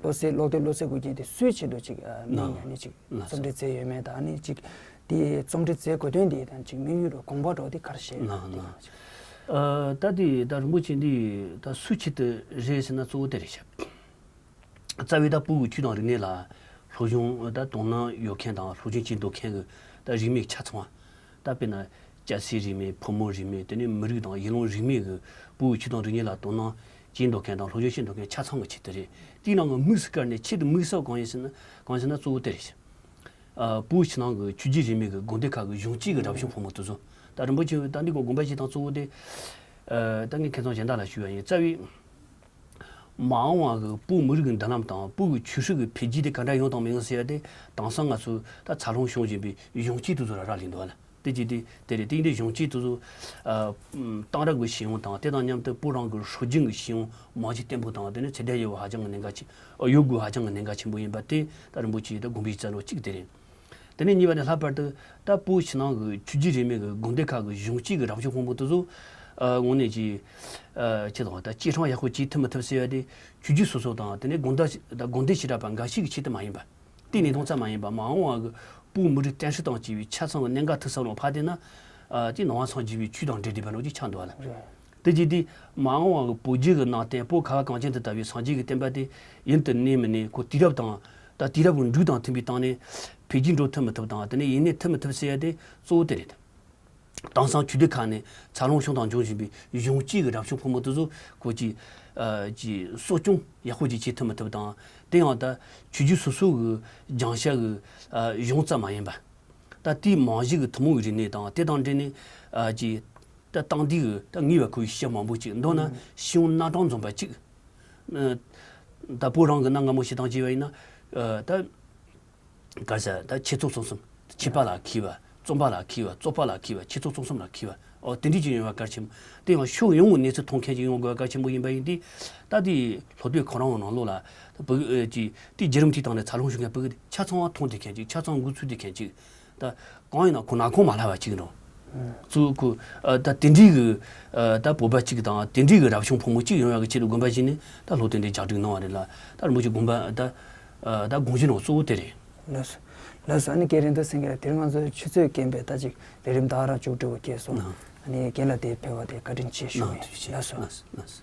བློ་གསལ་ཀློག་འདོད་བློ་གསལ་དགོས་རྒྱུ་དེ་སུའི་ཆེད་དུ་ཅིག་མིང་ཡང་ནི་ཅིག་རྩོམ་འབྲི་རྩལ་ཡོད་མེད་དང་ནི་ཅིག་དེ་རྩོམ་འབྲི་རྩལ་དགོས་དོན་འདི་དང་ཅིག་དམིགས་ཡུལ་རུ་དགོངས་པ་འགྲོ་འདི་གར་བཤད་ཡོད་མེད་དེ་ཡང་ཅིག། ད་འདི་ད་རིན་པོ་ཆེ་འདི་ད་སུའི་ཆེད་དུ་རེད་ཟེར་ན་གཙོ་བོ་དེ་རེད་བྱས། རྩ་བའི་ད་སྤུ་གུ་ཁྱུ་དང་རིག་གནས་ལ་ལྷོ་གཞུང་ད་དོ་སྣང་ཡོད་མཁན་དང་ལྷོ་གཞུང་ཅིག་འདོད་མཁན་གྱི་ད་རིས་མེད་ཆ་ཚང་བ་ད་དཔེར་ན་སྐྱ་སེར་རིས་མེད་ཕོ་མོ་རིས་མེད་དེ་ནི་མི་རིགས་དང་ཡུལ་ལུང་རིས་མེད་གྱི་སྤུ་གུ་ཁྱུ་དང་རིག་གནས་ལ་དོ་སྣང་ཅེས་འདོགས་མཁན་དང་ལྷོ་ཕྱོགས་ཞེས་འདོགས་མཁན་ཆ་ཚང་གི་ཆེད་དུ་རེད། དེའི་ནང་གི་དམིགས་སུ་བཀར་ནས་ཆེད་དུ་དམིགས་བསལ་གང་ཡིན་ཟེར་ན། གང་ཟེར་ན་གཙོ་བོ་དེ་རེད་ཟེར། པུའུ་ཕྱི་ནང་གི་ཆུ་རྒྱུད་རིས་མེད་ཀྱི་དགོན་སྡེ་ཁག་གི་གཞུང་གཅིག་གི་རབ་བྱུང་ཕོ་མོ་དུས་ཚོད། ད་རིན་པོ་ཆེའི་རྟ་འདི་ཀོ་དགོན་པ་ཞིག་དང་གཙོ་བོ་དེ། ད་ངས་མཁས་ཙང་གཞན་དག་ལ་ཞུ་བ་ཡིན། རྩ་བའི། མ་འོངས་བར་གྱི་པུའུ་མི་རིགས་ཀྱི་མདུན་ལམ་དང་པུའུ་ཀྱི་ཆོས་སྲིད་ཀྱི་འཕེལ་རྒྱས་དེ་ག་འདྲ་ཡོང་དང་མི་ཡོང་ཟེར་ཡ་དེ་དྭངས་སང་ང་ཚོས་ད་ཚར་ལོངས་བྱུང་བཞིན་པའི་གཞུང་གཅིག་དུས་ཚོད་ར་རག་ལས་འདུག་ཨ་ལས། ཏེ་ཅི་སྟེ་དེ་ལས་ཏིང་འཛིན་གཞུང་གཅིག་ཏུ། གཏང་རག་གི་ཤེས་ཡོན་དང་དེ་དང་མཉམ་དུ་སྤུ་རང་གི་ཧྲུའུ་ཅིང་གི་ཤེས་ཡོན་མང་ཆེ་བརྟན་པོ་དང་དེ་ནི་ཚད་ལྡན་ཡོད་པ་ཧ་ཅང་གི་གནད་འགག་ཅིག་ཡོད་དགོས་ཧ་ཅང་གི་གནད་འགག་ཆེན་པོ་ཡིན་པ་སྟེ་ད་རིན་པོ་ཆེའི་དགོངས་པའི་རྩ་བློ་གཅིག་དེ་རེད། དེ་ནས་གཉིས་པ་ནི་ལྷག་པར་དུ་ད་སྤུའི་ཕྱི་ནང་གི་ཆོས་བརྒྱུད་རིས་མེད་ཀྱི་དགོན་སྡེ་ཁག་གི་གཞུང་གཅིག་གི་རང་སྐྱོང་དཔུང་པོ་དེ་ཚོ། དངོས་གནས་ཀྱིས། ཁྱེད་དང་ད་གཅིག་ཧྲང་ཡག་ཤོས་གཅིག་ཐུབ་མ་ཐུབ་ཟེར་བ་དེ་ཆོས་བརྒྱུད་སོ་སོ་དང་དེ་ནས་དགོན་སྡེ་ཞེ་དྲག་པ་འགའ་ཞིག་གི་ཆེད་དུ་མ་ཡིན་པ། གཏན་ནས་སྟོང་རྩ་མ་ཡིན་པ་མ་འོངས་བར་གྱི་པུའུ་མུ་རི་ཏྲན་ཧྲི་དང་བཅས་པའི་ཆ་ཚང་གི་གནད་འགག་ཐིག་གསར་ལོག་ཕ་སྟེ་ན། ཅེས་ནང་བ་ཚང་བརྗེ་བའི་ཆུས་དང་འདྲེས་འདྲེས་པའི་ལོ་རྒྱུས་ཆགས་འདུག་བ་ལ། དེ་རྗེས་དེས་མ་འོངས་བར་གྱི་པུའུ་རྗེ་གི་ནང་བསྟན་པོ་ག་བ་གངས་ཅན་དུ་དར་བའི་སངས་རྒྱས་ཀྱི་བསྟན་པ་དེ་ཡུན་དུ་གནས་མི་གནས་ཁོ་དུས་རབས་དང། ད་དུས་རབས་ཀྱི་འབྲུག་དང་མཐུན་པའི་སྟངས་ནས། འཕེལ་རྒྱས་འགྲོ་ཐུབ་མི་ཐུབ་དང་དེ་ནས་ཡིན་ནས་ཐུབ་མི་ཐུབ་ཟེར་ཡ་དེ་གཙོ་བོ་དེ་རེད། དེང་སང་ཆོས་སྡེ་ཁག་ནས་འཚར་ལོངས་བྱུང་དང་འབྱུང་བཞིན་པའི་གཞུང་གཅིག་གི་རབ་བྱུང་ཕོ་མོ་ལྟོས་བཟོ་སྐོར་གྱི་གསོ་སྐྱོང་ཡག་པོ་ཅིག་བྱེད་ཐུབ་མ་ཐུབ་དང། དེ་ཡང་ད་ཆོས་བརྒྱུད་སོ་སོའི་གི་སྦྱང་བྱ་གི་གཞུང་རྩ་མ་ཡིན་པ། ད་ལྟའི་མང་གཞི་གི་ཐུན་མོང་གི་རིག་གནས་དང་དེ་དང་འབྲེལ་ནས་ད་སྟངས་འདིའི་གི་ད་ངེས་པར་ཁོའི་ཤེས་བྱ་མང་པོ་ཅིག་མདོར་ན་ཤེས་ཡོན་སྣ་དྲངས་འཛོམས་པ་ཅིག། ད་བོད་རང་གི་གནའ་སྔ་མོ་ཞེ་སྡང་བྱས་པ་ཡིན་ན། ད། བ། བཀའ་སྩལ། ད་ཁྱེད་ཚོགས་གཙོ་གསུམ། ཁྱིམ་པ་ལ་ཁྱི་བ། རྩོམ་པ་ལ་ཁྱི་བ། རྩོག་པ་ལ་ཁྱི་བ། ཁྱེད་ཚོགས་གཙོ་གསུམ་ལ་ཁྱི་བ། ཨོ་དེ་འགྲིག་ཅིག་ཡོང་བ་གལ་ཆེན་པོ། དེ་ཡང་ཕྱོགས་ཡོངས་ཀྱི་གནས་ཚུལ་མཐོང་མཁན་ཞིག་ཡོང་དགོས་པ་གལ་ཆེན་པོ་ཡིན་པ་ཡིན། དེ་ལྟ་དེ་ལྷོ་སྟོད་གངས་རང་ནང་ལོགས་ལ། བུ་གཅིག། དེ་རྗེས་རུམ་ཐིག་བཏང་ནས་ཚར་ལོངས་ཞུ་མཁན་བུ་གཅིག། ཆ་ཚང་བ་མཐོང་བདེ་མཁན་གཅིག་ཆ་ཚང་འགུལ་ཚུལ་བདེ་མཁན་གཅིག། ད་གང་ཡིན་ན་ཁོ་ནག་ཁོང་མ་ལྷ་བ་གཅིག་ཡིན་རུང་ཚུར་ཁོ་ད་དེ་འདྲིའི་གི་ད་བོད་པ་གཅིག་དང་དེ་འདྲིའི་གི་རབ་བྱུང་ཕོ་མོ་གཅིག་ཡོང་ཡག་གི་ཆེད་དུ་དགོན་པ་བཞེངས་ནས་ད་ལྷོ་སྟེང་དེ་ཇག་སྒྲིག་གནང་བ་རེད་ལ་ད་རིན་པོ་ཆེ་དགོན་པ་ད་ད་དགོན་གཞི་ནང་གཙོ་བོ་དེ་རེད། ལོས། ལོས། ཨ་ནི་སྐད་རིང་དུ་སེང་གེ་ལ་དེར་ང་ཚོའི་ཆུ་ཚོད་རྐྱེན་པས་ད་ཅིག་རེ་རིམ་བདག་རང་བཅུག་འགྲོ་དགོས་སྐྱེས་སོང། ཨ་ནི་རྒན་ལ་དེའི་ཕེ་བ་དེ་བཀའ་དྲིན་ཆེ་ཞུ་ངེས། ལོས།